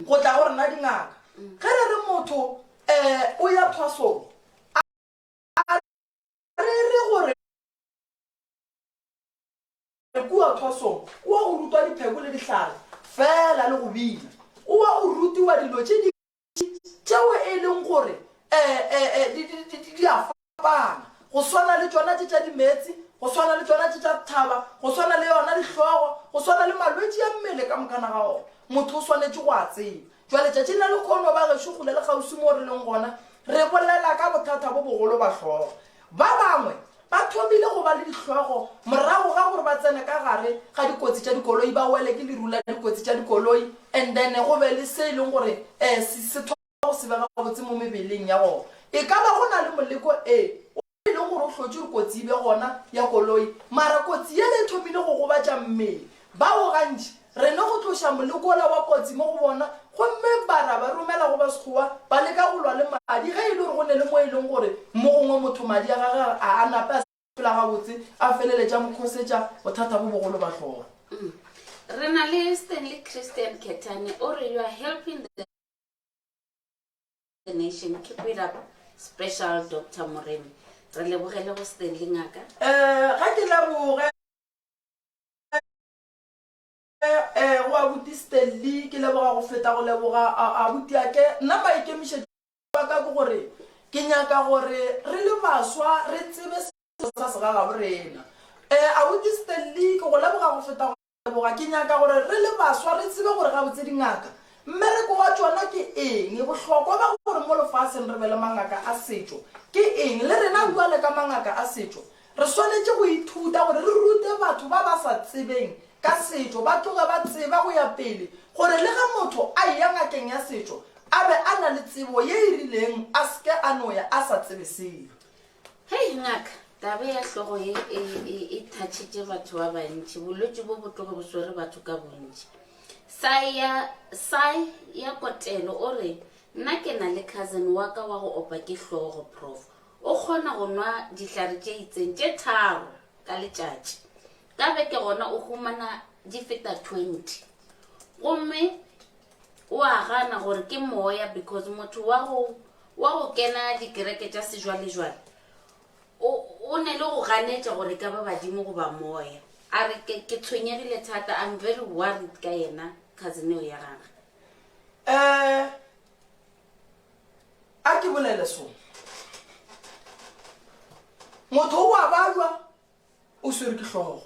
go tla go rena dingaka. Ge re re motho um o ya thwasong, A re e re gore kua thwasong o wa go rutwa dipheko le dihlare fela le go bina, o wa go rutiwa dilo tše dintši tšeo e leng gore di a fapana, go swana le tšona tše tša dimeetse, go swana le tšona tše tša thaba, go swana le yona dihlogo, go swana le malwetši a mmele ka mokana ga ona. Motho o swanetše go a tseba. Bjale, letšatšing la lekhono, bagešo, kgole le kgauswi moo re leng gona, re bolela ka bothata bo bogolo ba hlogo. Ba bangwe ba thomile go ba le dihlogo morago ga gore ba tsene ka gare ga dikotsi tša dikoloi, ba wele ke leru la dikotsi tša dikoloi, and then go be le se e leng gore se, se thoma go sebega gabotse mo mebeleng ya bona. E ka ba go na le moleko, ee, o. E le gore o hlotše gore kotsi e be gona ya koloi, mara kotsi yela e thomile go gobatša mmele. Bao gantši re no go tloša moleko wola wa kotsi mo go bona gomme ba ra ba romela go Basekgowa ba leka go lwa le madi ge e le gore go ne le mo e leng gore mo gongwe motho madi a gage a a nape a sepela gabotse a feleletša mo khosetša bothata bo bogolo ba hloogo. Re na le Stanley Christian Kethane o re, You are helping the. The Nation, keep it up special Doctor Moremi. Re lebogele go Stanley ngaka. Eh, ga ke leboge eh, go abuti Stanley, ke leboga go feta go leboga abuti ake. Nna maikemišetšo a ka ke gore ke nyaka gore re le baswa re tsebe selo sa segagaborena. Eh, abuti Stanley, ke go leboga go feta go Leboga, ke nyaka gore re le baswa re tsebe gore gabotse dingaka, mmereko wa tšona ke eng, bohlokwa ba gore mo lefaseng re be le mangaka a setšo ke eng. Le rena bjale ka mangaka a setšo re swanetše go ithuta gore re rute batho ba ba sa tsebeng ka setšo ba tloge ba tseba go ya pele gore le ge motho a eya ngakeng ya setšo a be a na le tsebo ye e rileng a se ke a no ya a sa tsebe selo. Hei ngaka, taba ya hlogo ye e, e, e thatšitše batho ba bantši. Bolwetši bo bo tloge bo swere batho ka bontši. Sai ya, Sai ya Kotelo o re, Nna ke na le cousin wa ka wa go opa ke hlogo, Prof. O kgona go nwa dihlare tše itseng tše tharo ka letšatši. Ka beke gona o humana di feta 20. Gomme O a gana gore ke moya because motho wa go wa go kena dikereke tša sejwalejwale o o ne le go ganetša gore ka ba badimo goba moya. A re ke ke tshwenyegile thata, I'm very worried ka yena cousin eo ya gagwe. Eh, a ke bolele sona. Motho o a balwa O swere ke hlogo.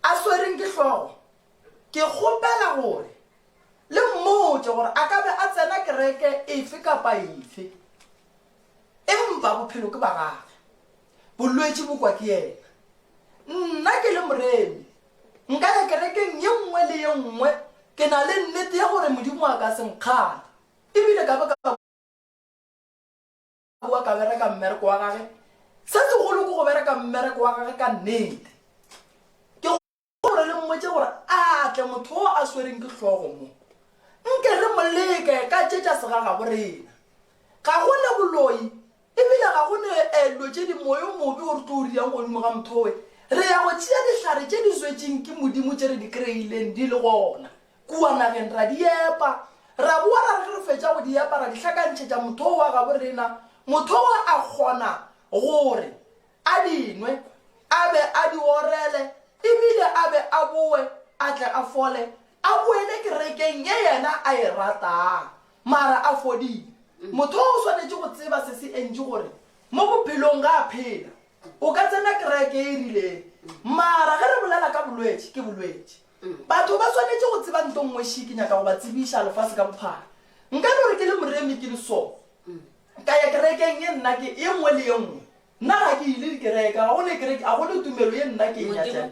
A swereng ke hlogo, ke kgopela gore le mmotše gore a ka be a tsena kereke efe kapa efe, empa bophelo ke ba gage, bolwetši bo kwa ke yena. Nna ke le moremi, nka ya kerekeng ye nngwe le ye nngwe, ke na le nnete ya gore Modimo a ka se nkgale, e bile ka be ka. O a ka bereka mmereko wa gage. Se segolo ke go bereka mmereko wa gage ka nnete. Ke gore re mmotše gore a tle motho wo a swereng ke hlogo mo. Nke re mo leke ka tše tša segaga go rena. Ga go ne boloi, e bile ga go ne dilo tše di moyo mobe o re tlo o riang godimo ga motho we. Re ya go tšea dihlare tše di zwetšeng ke Modimo tše re di kreileng di le gona. Kua nageng ra di epa. Ra boa ra re ge re fetša go di epa ra di hlakantšhetša motho o wa gabo rena, motho wa a kgona gore a di nwe, a be a di orele e bile a be a boe a tle a fole a boele kerekeng ye yena a e ratang mara a fodile. Motho o swanetše go tseba se se entši gore mo bophelong ga a phela. O ka tsena kereke e rileng mara ge re bolela ka bolwetši, ke bolwetši. Batho ba swanetše go tseba nto nngwe she ke nyaka go ba tsebiša lefase ka bophara. Nka no re ke le moremi ke le so. Ka ya kerekeng ye nna ke e nngwe le ye nngwe. Nna ga ke ile dikereke, ga go ne kereke, ga go ne tumelo ye nna ke e nyatšang.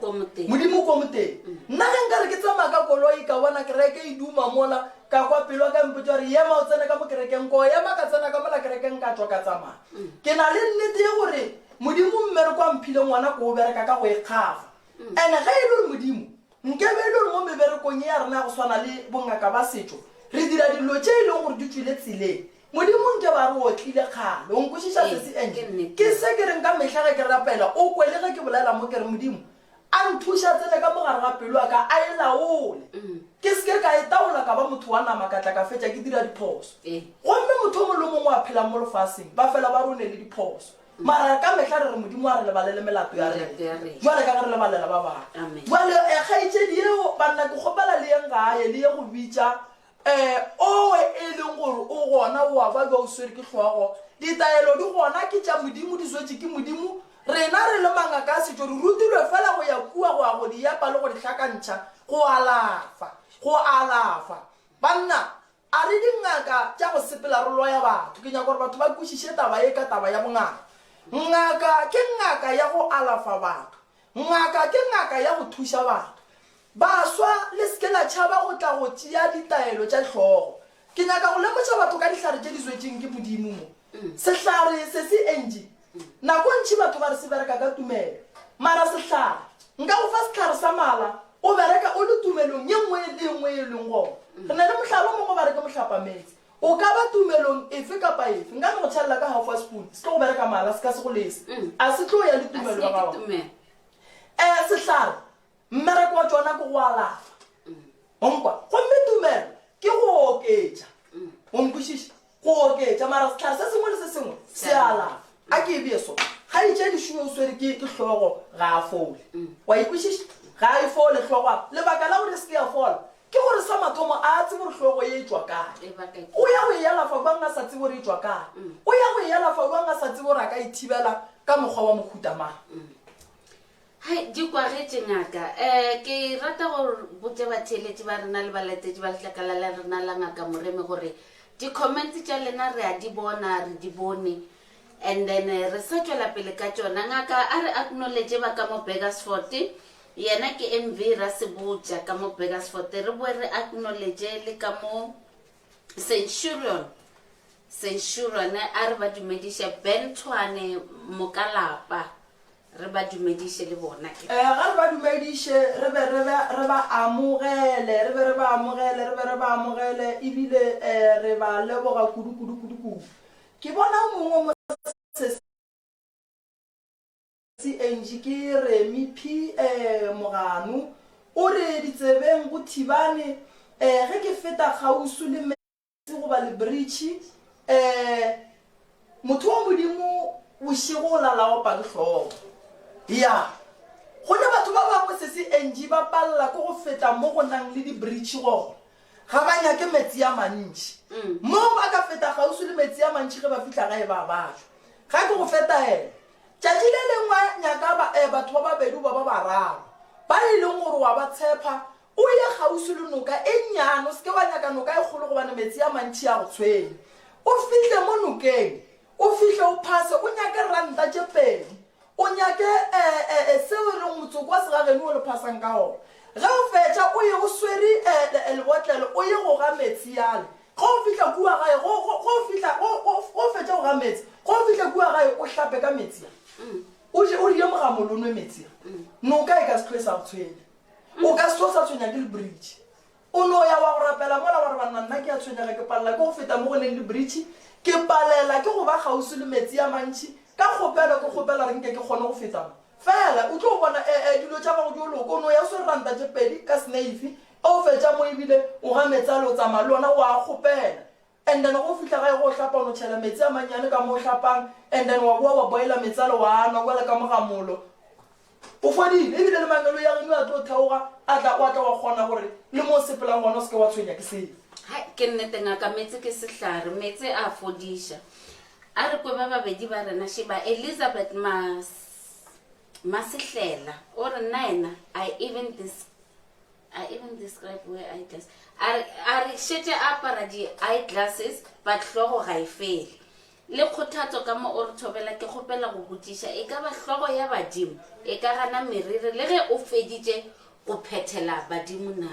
Modimo ko moteng. Nna ge nka re ke tsamaya ka koloi ka bona kereke e duma mola, ka kwa pelo ya ka e mpotša gore yema o tsene ka mo kerekeng, ko ema ka tsena ka mola kerekeng ka tšwa ka tsamaya. Ke na le nnete ye gore Modimo mme re kwa mphile ngwana ko o bereka ka go ikgafa. And ge e le gore Modimo, nkebe e le gore mo meberekong ye ya rena ya go swana le bongaka ba setšo re dira dilo tše e lego gore di tšwile tseleng, Modimo nkebe a re o otlile kgale. O nkwešiša, sesi? Angie, ke se ke reng ka mehla ge ke rapela, o kwe le ge ke bolela mo ke re, Modimo, a nthuše a tsene ka mo gare ga pelo ya ka, a e laole. Ke se ke ka e taola ka ba motho wa nama ka tla ka fetša ke dira diphoso. Gomme motho o mongwe le o mongwe a phelang mo lefaseng, ba fela ba rone le diphoso. Mara ka mehla re re Modimo a re lebalele melato ya rena, Melato ya rena. bjale ka ge re lebalela ba bangwe. Amen. Bjale eh, kgaetšedi yeo, banna, ke kgopela le yeng gae, le ye go bitša eh, owe e leng gore o gona, o a ba bja o swere ke hlogo. Ditaelo di gona, ke tša Modimo, di swetše ke Modimo. Rena re le mangaka a setšo re rutilwe feela go ya kua go ya go di epa le go di hlakantšha, go alafa, go alafa. Banna, A re, Dingaka tša go sepela re loya batho. Ke nyaka gore batho ba kwešiše taba ye ka taba ya bongaka. Ngaka ke ngaka ya go alafa batho. Ngaka ke ngaka ya go thuša batho. Baswa, le se ke la tšhaba go tla go tšea ditaelo tša hlogo. Ke nyaka go lemoša batho ka dihlare tše di zwetšeng ke Modimo mo. Sehlare se se entši. Nako ntši batho ba re se bereka ka tumelo. Mara sehlare. Nka go fa sehlare sa mala. O bereka o le tumelong ye nngwe le ye nngwe ye o leng gona. Re na le mohlala o mongwe ba re ke mohlapametse. O ka ba tumelong efe kapa efe. Nka no go tšhelela ka half wa spoon. Se tlo go bereka mara se ka se go lese. A se tlo ya le tumelo ya gago. Ee, sehlare. Mmereko wa tšona ke go alafa. O nkwa? Gomme tumelo ke go oketša. O nkwešiša? Go oketša, mara sehlare se sengwe le se sengwe se a alafa. A ke e bee so. Kgaetšedi Shuwe o swere ke, ke hlogo, ga a fole. O a e kwešiša? Ga a e fole hlogo. A lebaka la gore e se ke ya fola ke gore sa mathomo a a tsebe gore hlogo ye e tšwa kae. O ya go e alafa bjang a sa tsebe gore e tšwa kae? O ya go e alafa bjang a sa tsebe gore a ka e thibela ka mokgwa wa mohuta mang? Hai, di kwagetše, Ngaka. Eh, ke rata go botša batheeletši ba rena le balatetši ba letlakala la rena la Ngaka Moremi gore di-comments tša lena re a di bona, re di bone, and then eh, re sa tšwela pele ka tšona. Ngaka a re acknowledge ba ka mo Burgersfort, yena ke MV Rasebotša ka mo Burgersfort, re boe re acknowledge le ka mo Centurion, Centurion a re ba dumediše Ben Tshwane Mokalapa. Re ba dumediše le bona ke. Ee, ga re ba dumediše, re be re ba, re ba amogele, re be re ba amogele, re be re ba amogele, e bile, ee, re ba leboga kudu, kudu, kudu, kudu. Ke bona o mongwe mo sesing, Angie, ke Remi P. Ee, Moganu, o re, ditsebeng go thibane, ee, ge ke feta kgauswi le me, Se goba lebritšhi, ee, Motho wa Modimo bošego o la la opa ke hlogo. Ya, go ne batho ba bangwe se se entši ba palela ke go feta mo go nang le dibritšhi gore ga ba nyake metsi a mantši. Moo ba ka feta kgauswi le metsi a mantši ge ba fihla gae ba batla. Ga ke go fetaela. Tšatši le lengwe nyaka ba, ee, batho ba babedi goba ba bararo ba e leng gore wa ba tshepha O ye kgauswi le noka e nnyane, o se ke wa nyaka noka e kgolo gobane metsi a mantši a go tshwenya. O fihle mo nokeng, o fihle o phase, o nyake ranta tše pedi, o nyake, ee, ee, seo e lego motsoko wa segageno wo le phasang ka gona. Ge o fetša, o ye o swere, ee, ee, lebotlelo, o ye go ga metsi yale. Ge o fihla kua gae, ge, ge, ge o fihla, ge, ge, ge o fetša go ga metsi, ge o fihla kua gae, o hlape ka metsi a. O je, o rie mogamolo, o nwe metsi a. Noka e ka se tloge e sa go tshwenya. O ka se o sa tshwenya ke lebritšhi. O no ya wa go rapela mola wa re, Banna, nna ke a tshwenyega, ke palela ke go feta mo go leng lebritšhi, ke palela ke go ba kgauswi le meetse a mantši. Ka kgopelo ke kgopela gore nke ke kgone go feta mo. Fela, o tlo bona, e, e, dilo tša gago di yo loka. O no ya o swere ranta tše pedi ka seneifi, ge o fetša mo e bile o ga meetse ale o tsamaya le ona, o a kgopela. And then ge o fihla gae go o hlapa o no tšhela metsi a mannyane ka mo o hlapang and then wa boa wa boiler metsi ale wa a nwa kwale ka mo ga molo. O fodile ebile le mangelo ya geno a tlo theoga a tla wa tla wa kgona gore le mo o sepelang gona o se ke wa tshwenya ke selo. Hai, ke nnete ngaka, meetse ke sehlare, meetse a fodiša. A re kwe ba babedi ba rena, šeba Elizabeth Mas, Masehlela, o re nnaena, I even dis, I even describe where eye glass. A re- a re šetše a apara di-eye glasses but hlogo ga e fele. Le kgothatso ka mo o re thobela ke kgopela go botšiša e ka ba hlogo ya badimo e ka gana meriri le ge o feditše go phethela badimo na?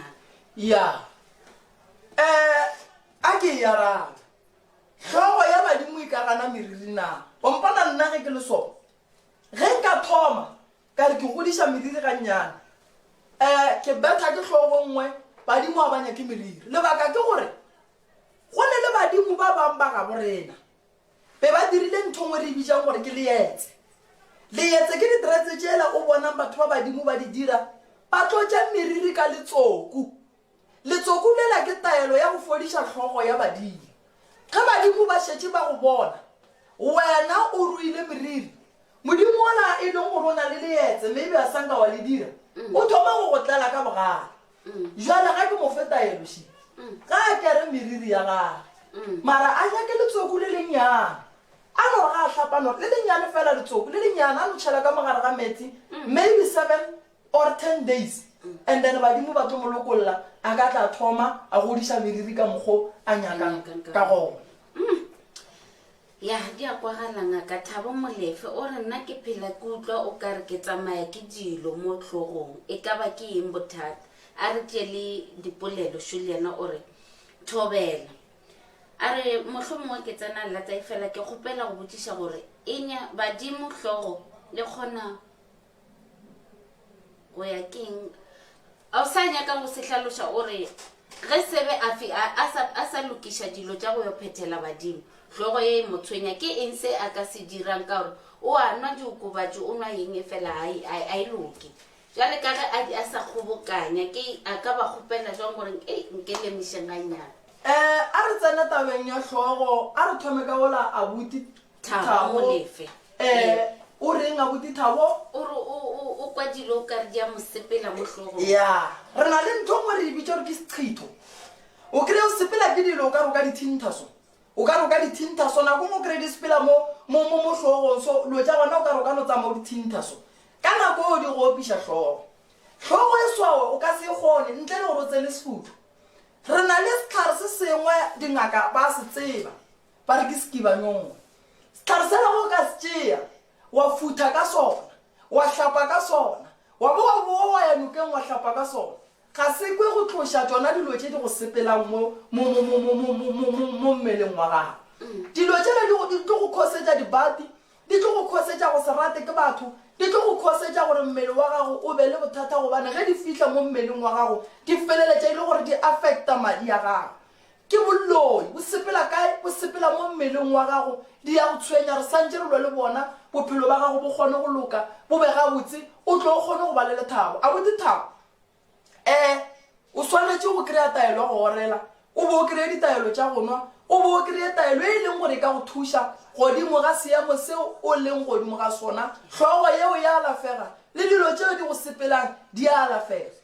Ya. Eh, a ke e arabe. Hlogo ya badimo e ka gana meriri na? O mpona nna ge ke le sona? Ge nka thoma, Ka re ke godiša meriri gannyane. Eh, ke betha ke hlogo nngwe, Badimo a ba nyake meriri. Lebaka ke gore go ne le badimo ba bang ba gabo rena. Be ba dirile ntho nngwe re e bitšang gore ke leetse. Leetse ke ditere tse tšela o bonang batho ba badimo ba di dira, ba tlotša meriri ka letsoku. Letsoku lela ke taelo ya go fodiša hlogo ya badimo. Ge badimo ba šetše ba go bona wena o ruile meriri, modimo wola e leng gore o na le leetse mme ebe a sa nka wa le dira, o thoma go go tlala ka bogale. Bjale ga ke mo fe taelo še, ga a kere meriri ya gage, mara a nyake letsoku le lennyane, a no re ga a hlapa no re le lennyane feela letsoku le lennyane a no tšhela ka mo gare ga meetse, maybe seven or ten days and then badimo ba tlo mo lokolla a ka tla thoma a godiša meriri ka mokgo a nyakang ka gona ya di a kwagala ngaka thabo molefe o re nna ke phela ke utlwa o ka re ke tsamaya ke dilo mo tlhogong e ka ba ke eng bothata a re tše le dipolelo šo le yena o re thobela a re motlho mongwe ke tsena lata e fela ke kgopela go botšiša gore enya badimo hlogo le kgona o ya keng a o sa nyaka go se hlaloša o re ge sebe a fi a a sa a sa lokiša dilo tša go yo phethela badimo hlogo ye e mo tshwenya ke eng se a ka se dirang ka gore o a nwa diokobatši o nwa yeng e fela a e- a e- a e loke jale ka ge a di a sa kgobokanya ke a ka ba kgopela jwang gore e nke lemišeng ganyana Eh, a re tsene tabeng ya hlogo, a re thome ka ola abuti Thabo, a mo lefe. Ee. Eh, o reng abuti Thabo? O re o, o, o kwa dilo o ka re di a mo sepela mo hlogong. Ya, re na le ntho ngwe re e bitša gore ke sechitho. O kry-e o sepela ke dilo o ka re o ka di thintha so. O ka re o ka di thintha so, nako ngwe o kry-e di sepela mo, mo, mo, mo hlogong so, dilo tša gona o ka re o ka no tsamaya o di thintha so. Ka nako eo di go opiša hlogo. Hlogo e swawe o ka se e kgone ntle le gore o tsene sefutho. Re na le sehlare se sengwe dingaka ba se tseba. Ba re ke sekibanyongwe. Sehlare sela go ka se tšea, wa futha ka sona, wa hlapa ka sona, wa bo wa boa wa ya nokeng wa hlapa ka sona. Ga se kwe go tloša tšona dilo tše di go sepelang mo mmeleng wa gago. Dilo tšela di tlo go khosetša dibati, di tlo go khosetša go se rate ke batho, di tlo go khosetša gore mmele wa gago o be le bothata gobane ge di fihla mo mmeleng wa gago di feleletša e le gore di affecta madi a gago. Ke bolloi, bo sepela kae? Bo sepela mo mmeleng wa gago. Di ya go tshwenya, re santše re lwa le bona, bophelo ba gago bo kgone go loka, bo be gabotse, o tle o kgone go ba le lethabo. A bo di thaba? Ee. O swanetše go kry-a taelo ya go orela, o bo o kry-e ditaelo tša go nwa, o bo o kry-e taelo ye e leng gore e ka go thuša godimo ga seemo seo o leng godimo ga sona. Hlogo yeo e a alafega, le dilo tšeo di go sepelang di a alafega.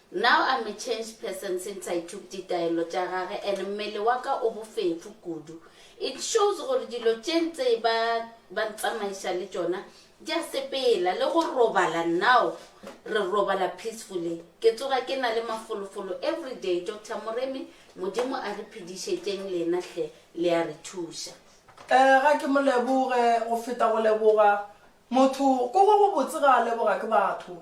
Now I'm a changed person since I took ditaelo tša gage and mmele wa ka o bofefo kudu. It shows gore dilo tše ntse ba ba ntsamaiša le tšona di a sepela. Le go robala now re robala peacefully. Ke tsoga ke na le mafolofolo everyday. Doctor Moremi, Modimo a re phedišetšeng lena hle, le a re thuša. Ee, ga ke mo leboge go feta go leboga motho, ko go gobotse ga a lebogwa ke batho.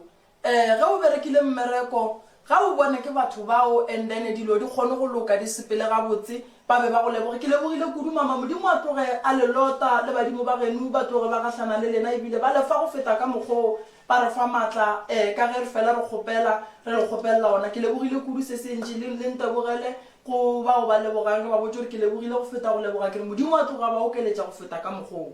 Ee, ge o berekile mmereko, ga o bone ke batho bao and then dilo di kgone go loka, di sepele gabotse, ba be ba go leboge. Ke lebogile kudu mama, Modimo a tloge a le lota le badimo ba genu ba tloge ba gahlana le lena ebile ba lefa go feta ka mokgwa o ba re fa matla eh, ka ge re fela re kgopela, re le kgopelela ona. Ke lebogile kudu se se ntši, le, le ntebogele go bao ba lebogang, re ba botše gore ke lebogile go feta go leboga, ke re Modimo a tloge a ba okeletša go feta ka mokgwa o.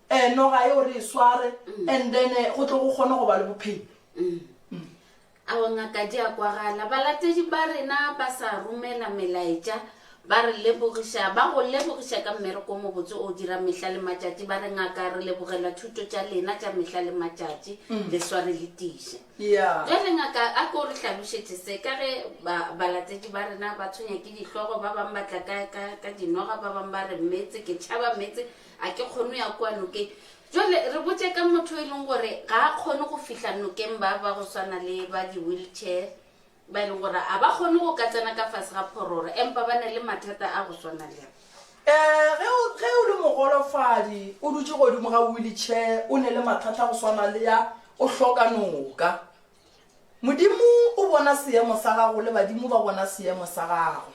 um noga yeo re e sware and then eh, go tle go kgone go ba le bophelo ao ngaka di a kwagala balatedi ba rena ba sa romela melaetša ba re lebogiša ba go lebogiša ka mmereko o mobotse o dira mehla le matšatši ba re ngaka re lebogela thuto tša lena tša mehla le matšatši le sware le tiše ya ge re ngaka a ko re hlalošetše se ka ge ba- balatedi ba rena ba tshwenya ke dihlogo ba bangwe ba tla ka- ka ka dinoga ba bangwe ba re metse ke tšhaba metse A ke kgone go ya kua nokeng? Jwale re botše ka motho yo e leng gore ga a kgone go fihla nokeng, ba ba go swana le ba di-wheelchair, ba e leng gore ga ba kgone go ka tsena ka fase ga phororo, empa ba na le mathata a go swana le a. Ee, ge o, ge o le mogolofadi, o dutše godimo ga wheelchair, o ne le mathata a go swana le a, o hloka noka. Modimo o bona seemo sa gago le badimo ba bona seemo sa gago.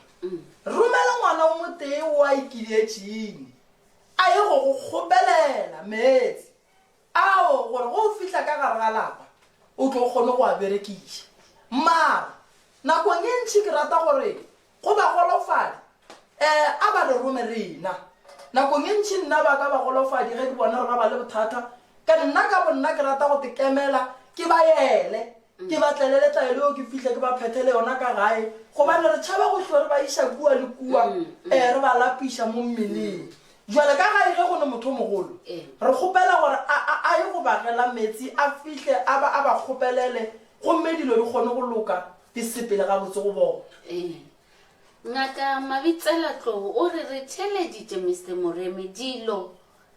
Romela ngwana o motee wo a ikiletšeng a ye go go kgopelela meetse ao gore go o fihla ka gare ga lapa o tlo kgone go a berekiša. Mara nakong e ntši ke rata gore Go ba golofadi, ee, a ba re rome rena. Nakong e ntši nna ba ka ba golofadi ge ke bona gore ba ba le bothata, ka nna ka bonna ke rata go tekemela, ke ba yele, ke ba tlele le tlaelo yeo ke fihle ke ba phethele yona ka gae, gobane re tšhaba go hlo re ba iša kua le kua, ee, re ba lapiša mo mmeleng. Bjale ka gae ge go ne motho o mogolo, re kgopela gore a, a, a ye go bagela meetse, a fihle a ba, a ba kgopelele, gomme dilo di kgone go loka. Ke sepele gabotse go bona. Ee. Ngaka Mabitsela-Tlou o re re theeleditše Mister Moremi dilo,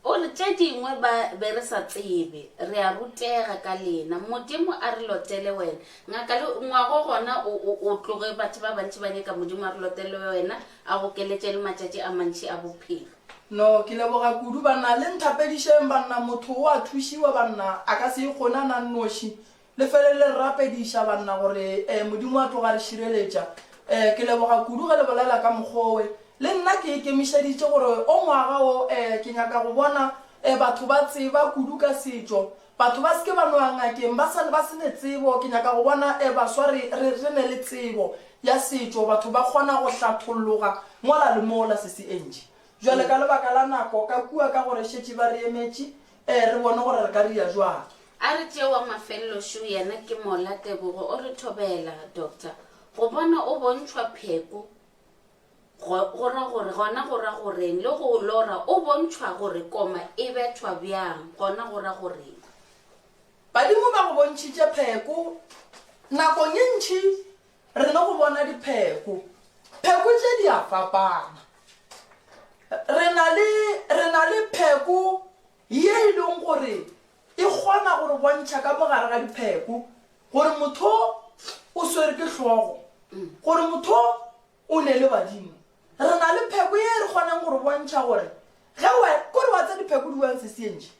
o re tše dingwe ba be re sa tsebe, re a rutega ka lena. Modimo a re lotele wena. Ngaka le ngwago gona o, o, o tloge batho ba bantši ba nyaka Modimo a re lotele wena, a go keletše le matšatši a mantši a bophelo. No, ke leboga kudu, banna. Le nthapedišeng, banna. Motho o a thušiwa, banna. A ka se ikgone a na nnoši. Le felelele re rapediša, banna, gore Modimo a tloga a re šireletša. Ke leboga kudu ge le bolela ka mokgwa owe. Le nna ke ikemišeditše gore o ngwaga wo ke nyaka go bona batho ba tseba kudu ka setšo. Batho ba se ke ba no ya ngakeng ba sa ba se ne tsebo. Ke nyaka go bona baswa re, re, re ne le tsebo ya setšo, batho ba kgona go hlatholloga mola le mola. Sesi Angie, bjale ka lebaka la nako, ka kua ka gore šetše ba re emetše, Ee, re bone gore re ka ria jwang. A re tšee wa mafelelo šo yena ke Mola Tebogo o re thobela, Doctor, go bona o bontšhwa pheko go, go ra gore, gona go ra goreng, le go lora o bontšhwa gore koma e bethwa bjang, gona go ra goreng. Badimo ba go bontšhitše pheko nakong e ntši Re no go bona dipheko. Pheko tše di a fapana. Re na le, re na le pheko ye e leng gore e kgona go re bontšha ka mogare ga dipheko gore motho o swere ke hlogo, gore motho o ne le badimo. Re na le pheko ye e re kgoneng go re bontšha gore ge wa, kore wa tsa dipheko di wang sesientši.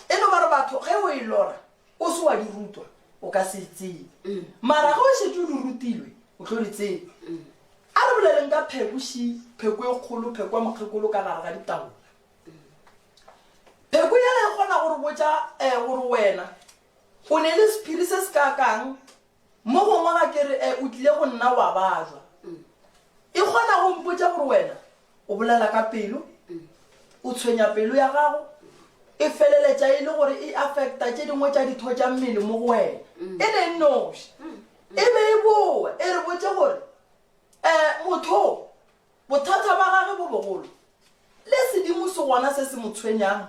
E no ba re batho ge o e lora o se wa di rutwa o ka se e tsebe, mara ge o šetše o di rutilwe o tlo di tseba. A re boleleng ka pheko, shi, pheko e kgolo, pheko ya mokgekolo ka gare ga ditaola. Pheko yela e kgona go re botša um gore wena o ne le sephiri se se kaakang Mo gongwe ga ke re, E, o tlile go nna wa bajwa. E kgona go mpotša gore wena o bolela ka pelo, o tshwenya pelo ya gago, e feleletša e le gore e affecta tše dingwe tša ditho tša mmele mo go wena. E le nnoši. E be e boa, e re botše gore, E, motho o, Bothata bja gage bo bogolo le sedimo se gona se se mo tshwenyang,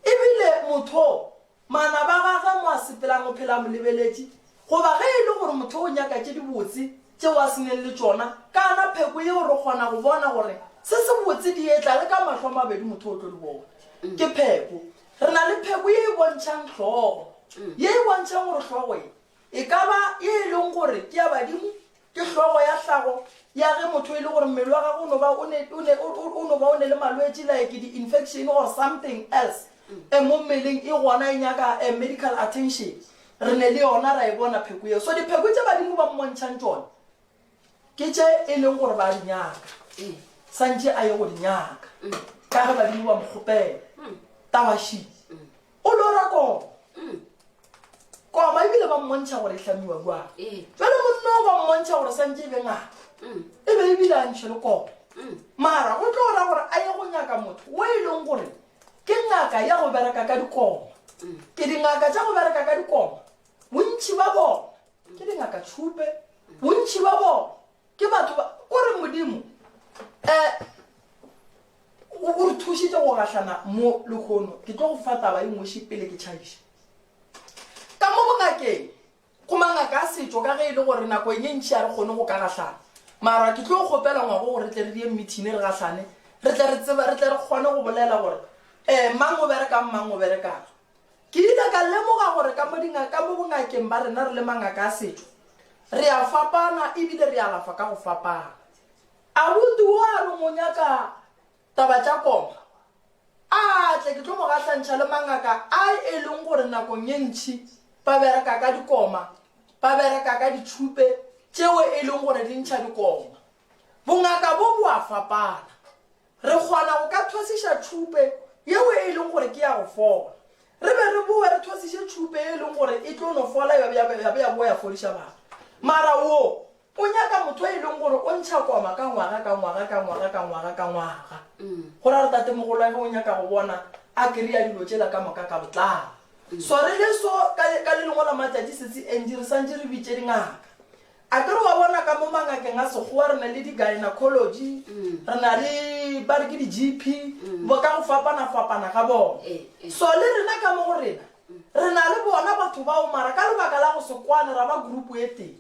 e bile motho o manaba a gagwe mo a sepelang o phela a mo lebeletše. Goba ge e le gore motho o nyaka tše dibotse tšeo a se neng le tšona, kana pheko yeo re kgona go bona gore se sebotse di etla le ka mahlo a mabedi motho o tlo di bona. Ke pheko. Re na le pheko ye e bontšhang hlogo, ye e bontšhang gore hlogo ye e ka ba ye e leng gore ke ya badimo Ke hlogo ya hlago ya ge motho e le gore mmele wa gagwe o no ba o ne, o ne, o, o, o no ba o ne le malwetši like di-infection or something else e mo mmeleng e gona e nyaka a medical attention. Re ne le yona ra e bona pheko yeo. So dipheko tše Badimo ba mmontšhang tšona ke tše e leng gore ba di nyaka, santše a ye go di nyaka ka ge Badimo ba mo kgopela. Tabashi. O lora koma. Mm. Koma ebile ba mmontšha gore e hlamiwa kua. Ee. Jwale monna o ba mmontšha gore santše e be ngaka. Mm. E be ebile a ntšhe le koma. Mm. Mara go tlo ra gore a ye go nyaka motho o e leng gore ke ngaka ya go bereka ka dikoma. Mm. Ke dingaka tša go bereka ka dikoma. Bontši ba bona ke dingaka tšhupe. Mm. Bontši ba bona Ke batho ba, ko re Modimo eh, o re thušitše go gahlana mo lehono. Ke tlo go fa taba e ngweši pele ke tšhaiša. Ka mo bongakeng, go mangaka a setšo ka ge e le gore nako e ntši a re kgone go ka gahlana. Mara ke tlo kgopela ngwago gore re tle re die mmithine re gahlane, re tle re tseba, re tle re kgone go bolela gore eh, mang o berekang, mang o berekang. Ke ile ka lemoga gore ka mo dinga, ka mo bongakeng ba rena re le mangaka a setšo, re a fapana e bile re alafa ka go fapana. Abuti wo a re monya ka taba tša koma a tle ke tlo mo gahlantšha le mangaka a e leng gore nakong e ntši ba bereka ka dikoma, ba bereka ka ditšhupe tšeo e leng gore di ntšha dikoma. Bongaka bo bo a fapana. Re kgona go ka thwasiša tšhupe yeo e lego gore ke ya go fola, re be re bowe re thwasiše tšhupe ye e lego gore e tlo no fola ya be ya bowa ya fodiša batho. Mara wo o nyaka motho yo e lego gore o ntšha koma ka ngwaga ka ngwaga ka ngwaga ka ngwaga ka ngwaga. Go ra gore tatemogolo wa ge o nyaka go bona a kry-a dilo tšela ka moka ka botlalo. Sware leso ka le lengwe la matšatši Sesi Angie re santše re bitše dingaka. Akere wa bona ka mo mangakeng a Sekgowa re na le di-gynecology, re na le ba re ke di-GP, bo ka go fapana-fapana ga bona. So le rena ka mo go rena, re na le bona batho bao mara ka lebaka la go se kwane ra ba group e tee.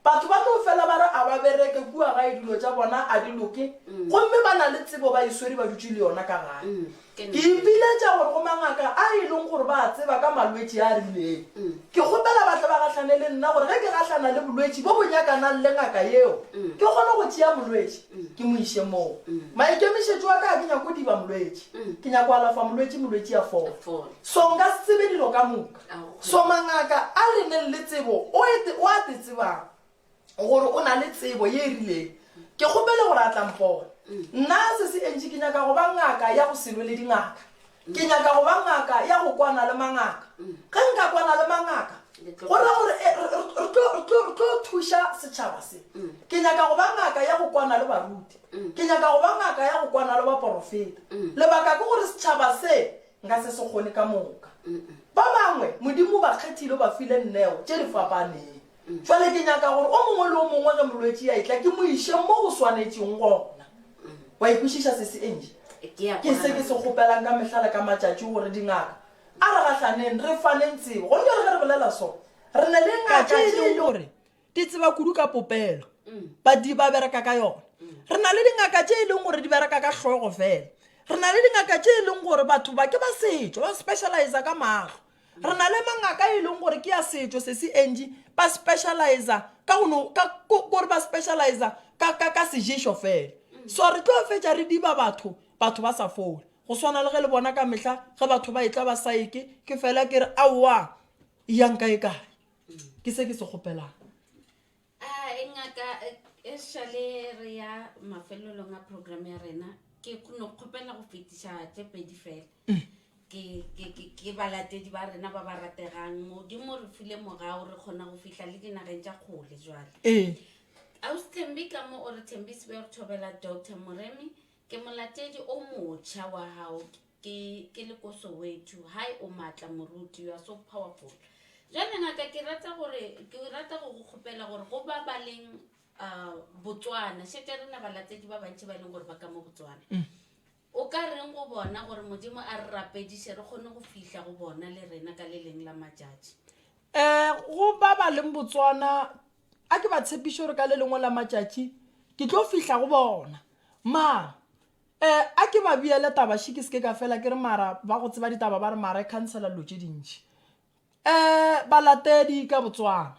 Batho ba tlo fela ba re a ba bereke kua gae dilo tša bona a di loke, gomme ba na le tsebo ba e swere ba dutše le yona ka gae. Ke ipiletša gore go mangaka a e lego gore ba a tseba ka malwetši a a rilego. Ke kgopela ba tle ba gahlane le nna gore ge ke gahlana le bolwetši bjo bo nyakanang le ngaka yeo, ke kgone go tšea molwetši ke mo iše moo. Maikemišetšo a ka ga ke nyake go diba molwetši. Ke nyaka go alafa molwetši, molwetši a fole. So nka se tsebe dilo ka moka. So mangaka a re neng le tsebo o a te tsebago. gore o na le tsebo ye e rileng ke kgopele gore a tla mpona nna se se entši ke nyaka go ba ngaka ya go selwe le dingaka ke nyaka go ba ngaka ya go kwana le mangaka ge nka kwana le mangaka go ra gore eh, re tlo thuša setšhaba se ke nyaka go ba ngaka ya go kwana le baruti ke nyaka go ba ngaka ya go kwana le baporofeta lebaka ke gore setšhaba se nka se se kgone ka moka ba bangwe modimo ba kgethile ba file nneo tše di fapaneng Bjale ke nyaka gore o mongwe le o mongwe ge molwetši a etla, ke mo iše mo go swanetšeng gona. Wa e kwešiša se se Angie? Ke a Ke se ke se kgona. kgopelang ka mehla le ka matšatši gore dingaka a re gahlaneng, re faneng tsebo. Gona bjale ge re bolela so, re na le ngaka Tšatši tše e le gore di tseba kudu ka popelo, badi ba bereka ka yona. Re na le dingaka tše e leng gore di bereka ka hlogo fela. Re na le dingaka tše e leng gore batho ba ke ba setšo, ba specializa ka mahlo. Re na le mangaka e leng gore ke a setšo se se entši ba specializa ka go no ka gore ba specializa ka ka ka seješo fela so re tlo fetša re diba batho batho ba sa fole go swana le ge le bona ka mehla ge batho ba etla ba saeke ke fela ke re aowa e yang kae kae ke se ke se kgopelang A Ngaka, esale re ya mafelelong a program ya rena, ke no kgopela go fetiša tše pedi fela. Ke, ke, ke, ke balatedi ba rena ba ba rategang. Modimo o re file mogao, re kgona go fihla le dinageng tša kgole jwale. Ee. Ausi Thembi ka mo o re thembisbe go thobela Doctor Moremi, ke molatedi o motšha wa hao. Ke, ke le ko Soweto. Hi, o maatla moruti, you are so powerful. Jwale ngaka ke rata gore, ke rata go go kgopela gore go ba ba leng uh, Botswana, šetša rena balatedi ba bantši ba e leng gore ba ka mo Botswana. Mm. O ka reng go bona gore Modimo a re rapediše re kgone go fihla go bona le rena ka le leng la matšatši? Eh, go ba ba leng Botswana, a ke ba tshepiše gore ka le lengwe la matšatši ke tlo fihla go bona. Ma, Eh a ke ba beele taba she ke se ke ka fela ke re mara ba go tseba ditaba ba re mara e khansela dilo tše dintši. Eh balatedi ka Botswana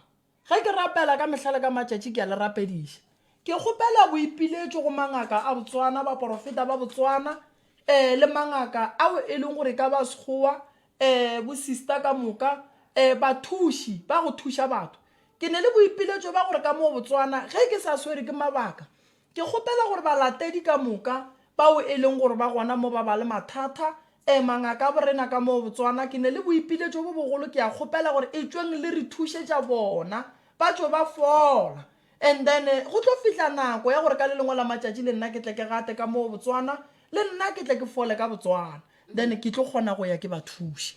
ge ke rapela ka mehla le ka matšatši ke a le rapediša. Ke kgopela boipiletšo go mangaka a Botswana, baporofeta ba Botswana eh le mangaka ao e leng gore e ka ba a Sekgowa eh bo sister ka moka eh bathuši ba go thuša batho. Ke ne le boipiletšo ba gore ka mo Botswana ge ke sa swere ke mabaka Ke kgopela gore balatedi ka moka, bao e leng gore ba gona mo ba ba le mathata, ee, mangaka a borena ka moo Botswana, ke ne le boipiletšo bo bogolo, ke a kgopela gore etšweng le re thušetša bona, ba tšo ba fola. And then go tlo fihla nako ya gore ka le lengwe la matšatši le nna ke tle ke gate ka moo Botswana, le nna ke tle ke fole ka Botswana, then ke tlo kgona go ya ke ba thuše.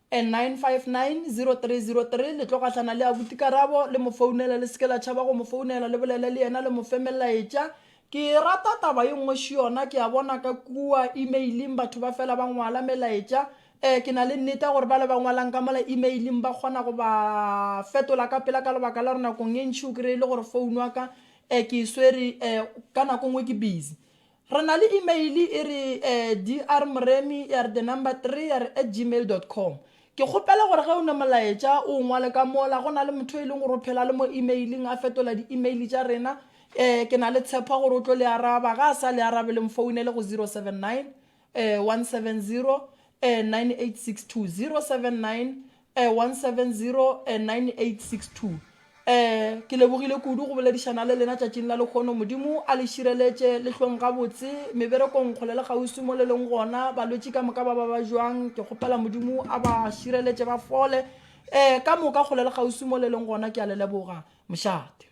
9590303 le tlo gahlana le abuti karabo le mo founele le seke la tšhaba go mo founela le bolele le yena le mo fe melaetša ke e rata taba ye nngwe še yona ke a bona ka kua emailing batho ba fela ba ngwala melaetša um ke na le nnete ya gore ba le ba ngwalang ka mola emailing ba kgona go ba fetola ka pela ka lebaka la gore nakong e ntši o kry-e le gore founu wa ka um ke e swere um ka nako nngwe ke busy Re na le imeile e re drmoremi3 at gmail dot com. Ke kgopela gore ge o ne molaetša o o ngwale ka mola, go na le motho yo e leng gore o phela le mo imeiling a fetola di-imeile tša rena. Ke na le tshepo ya gore o tlo le araba. Ge a sa le arabe, le mfounele go 079 170 9862, 079 1709862 Ke lebogile kudu go boledišana le lena tšatšing la lekgono. Modimo a le šireletše, le hlong gabotse meberekong kgole le kgauswi mo le leng gona. Balwetši ka moka ba ba ba bjang, ke kgopela Modimo a ba šireletše ba fole ka moka kgole le kgauswi mo le leng gona. Ke a le leboga. Mošate.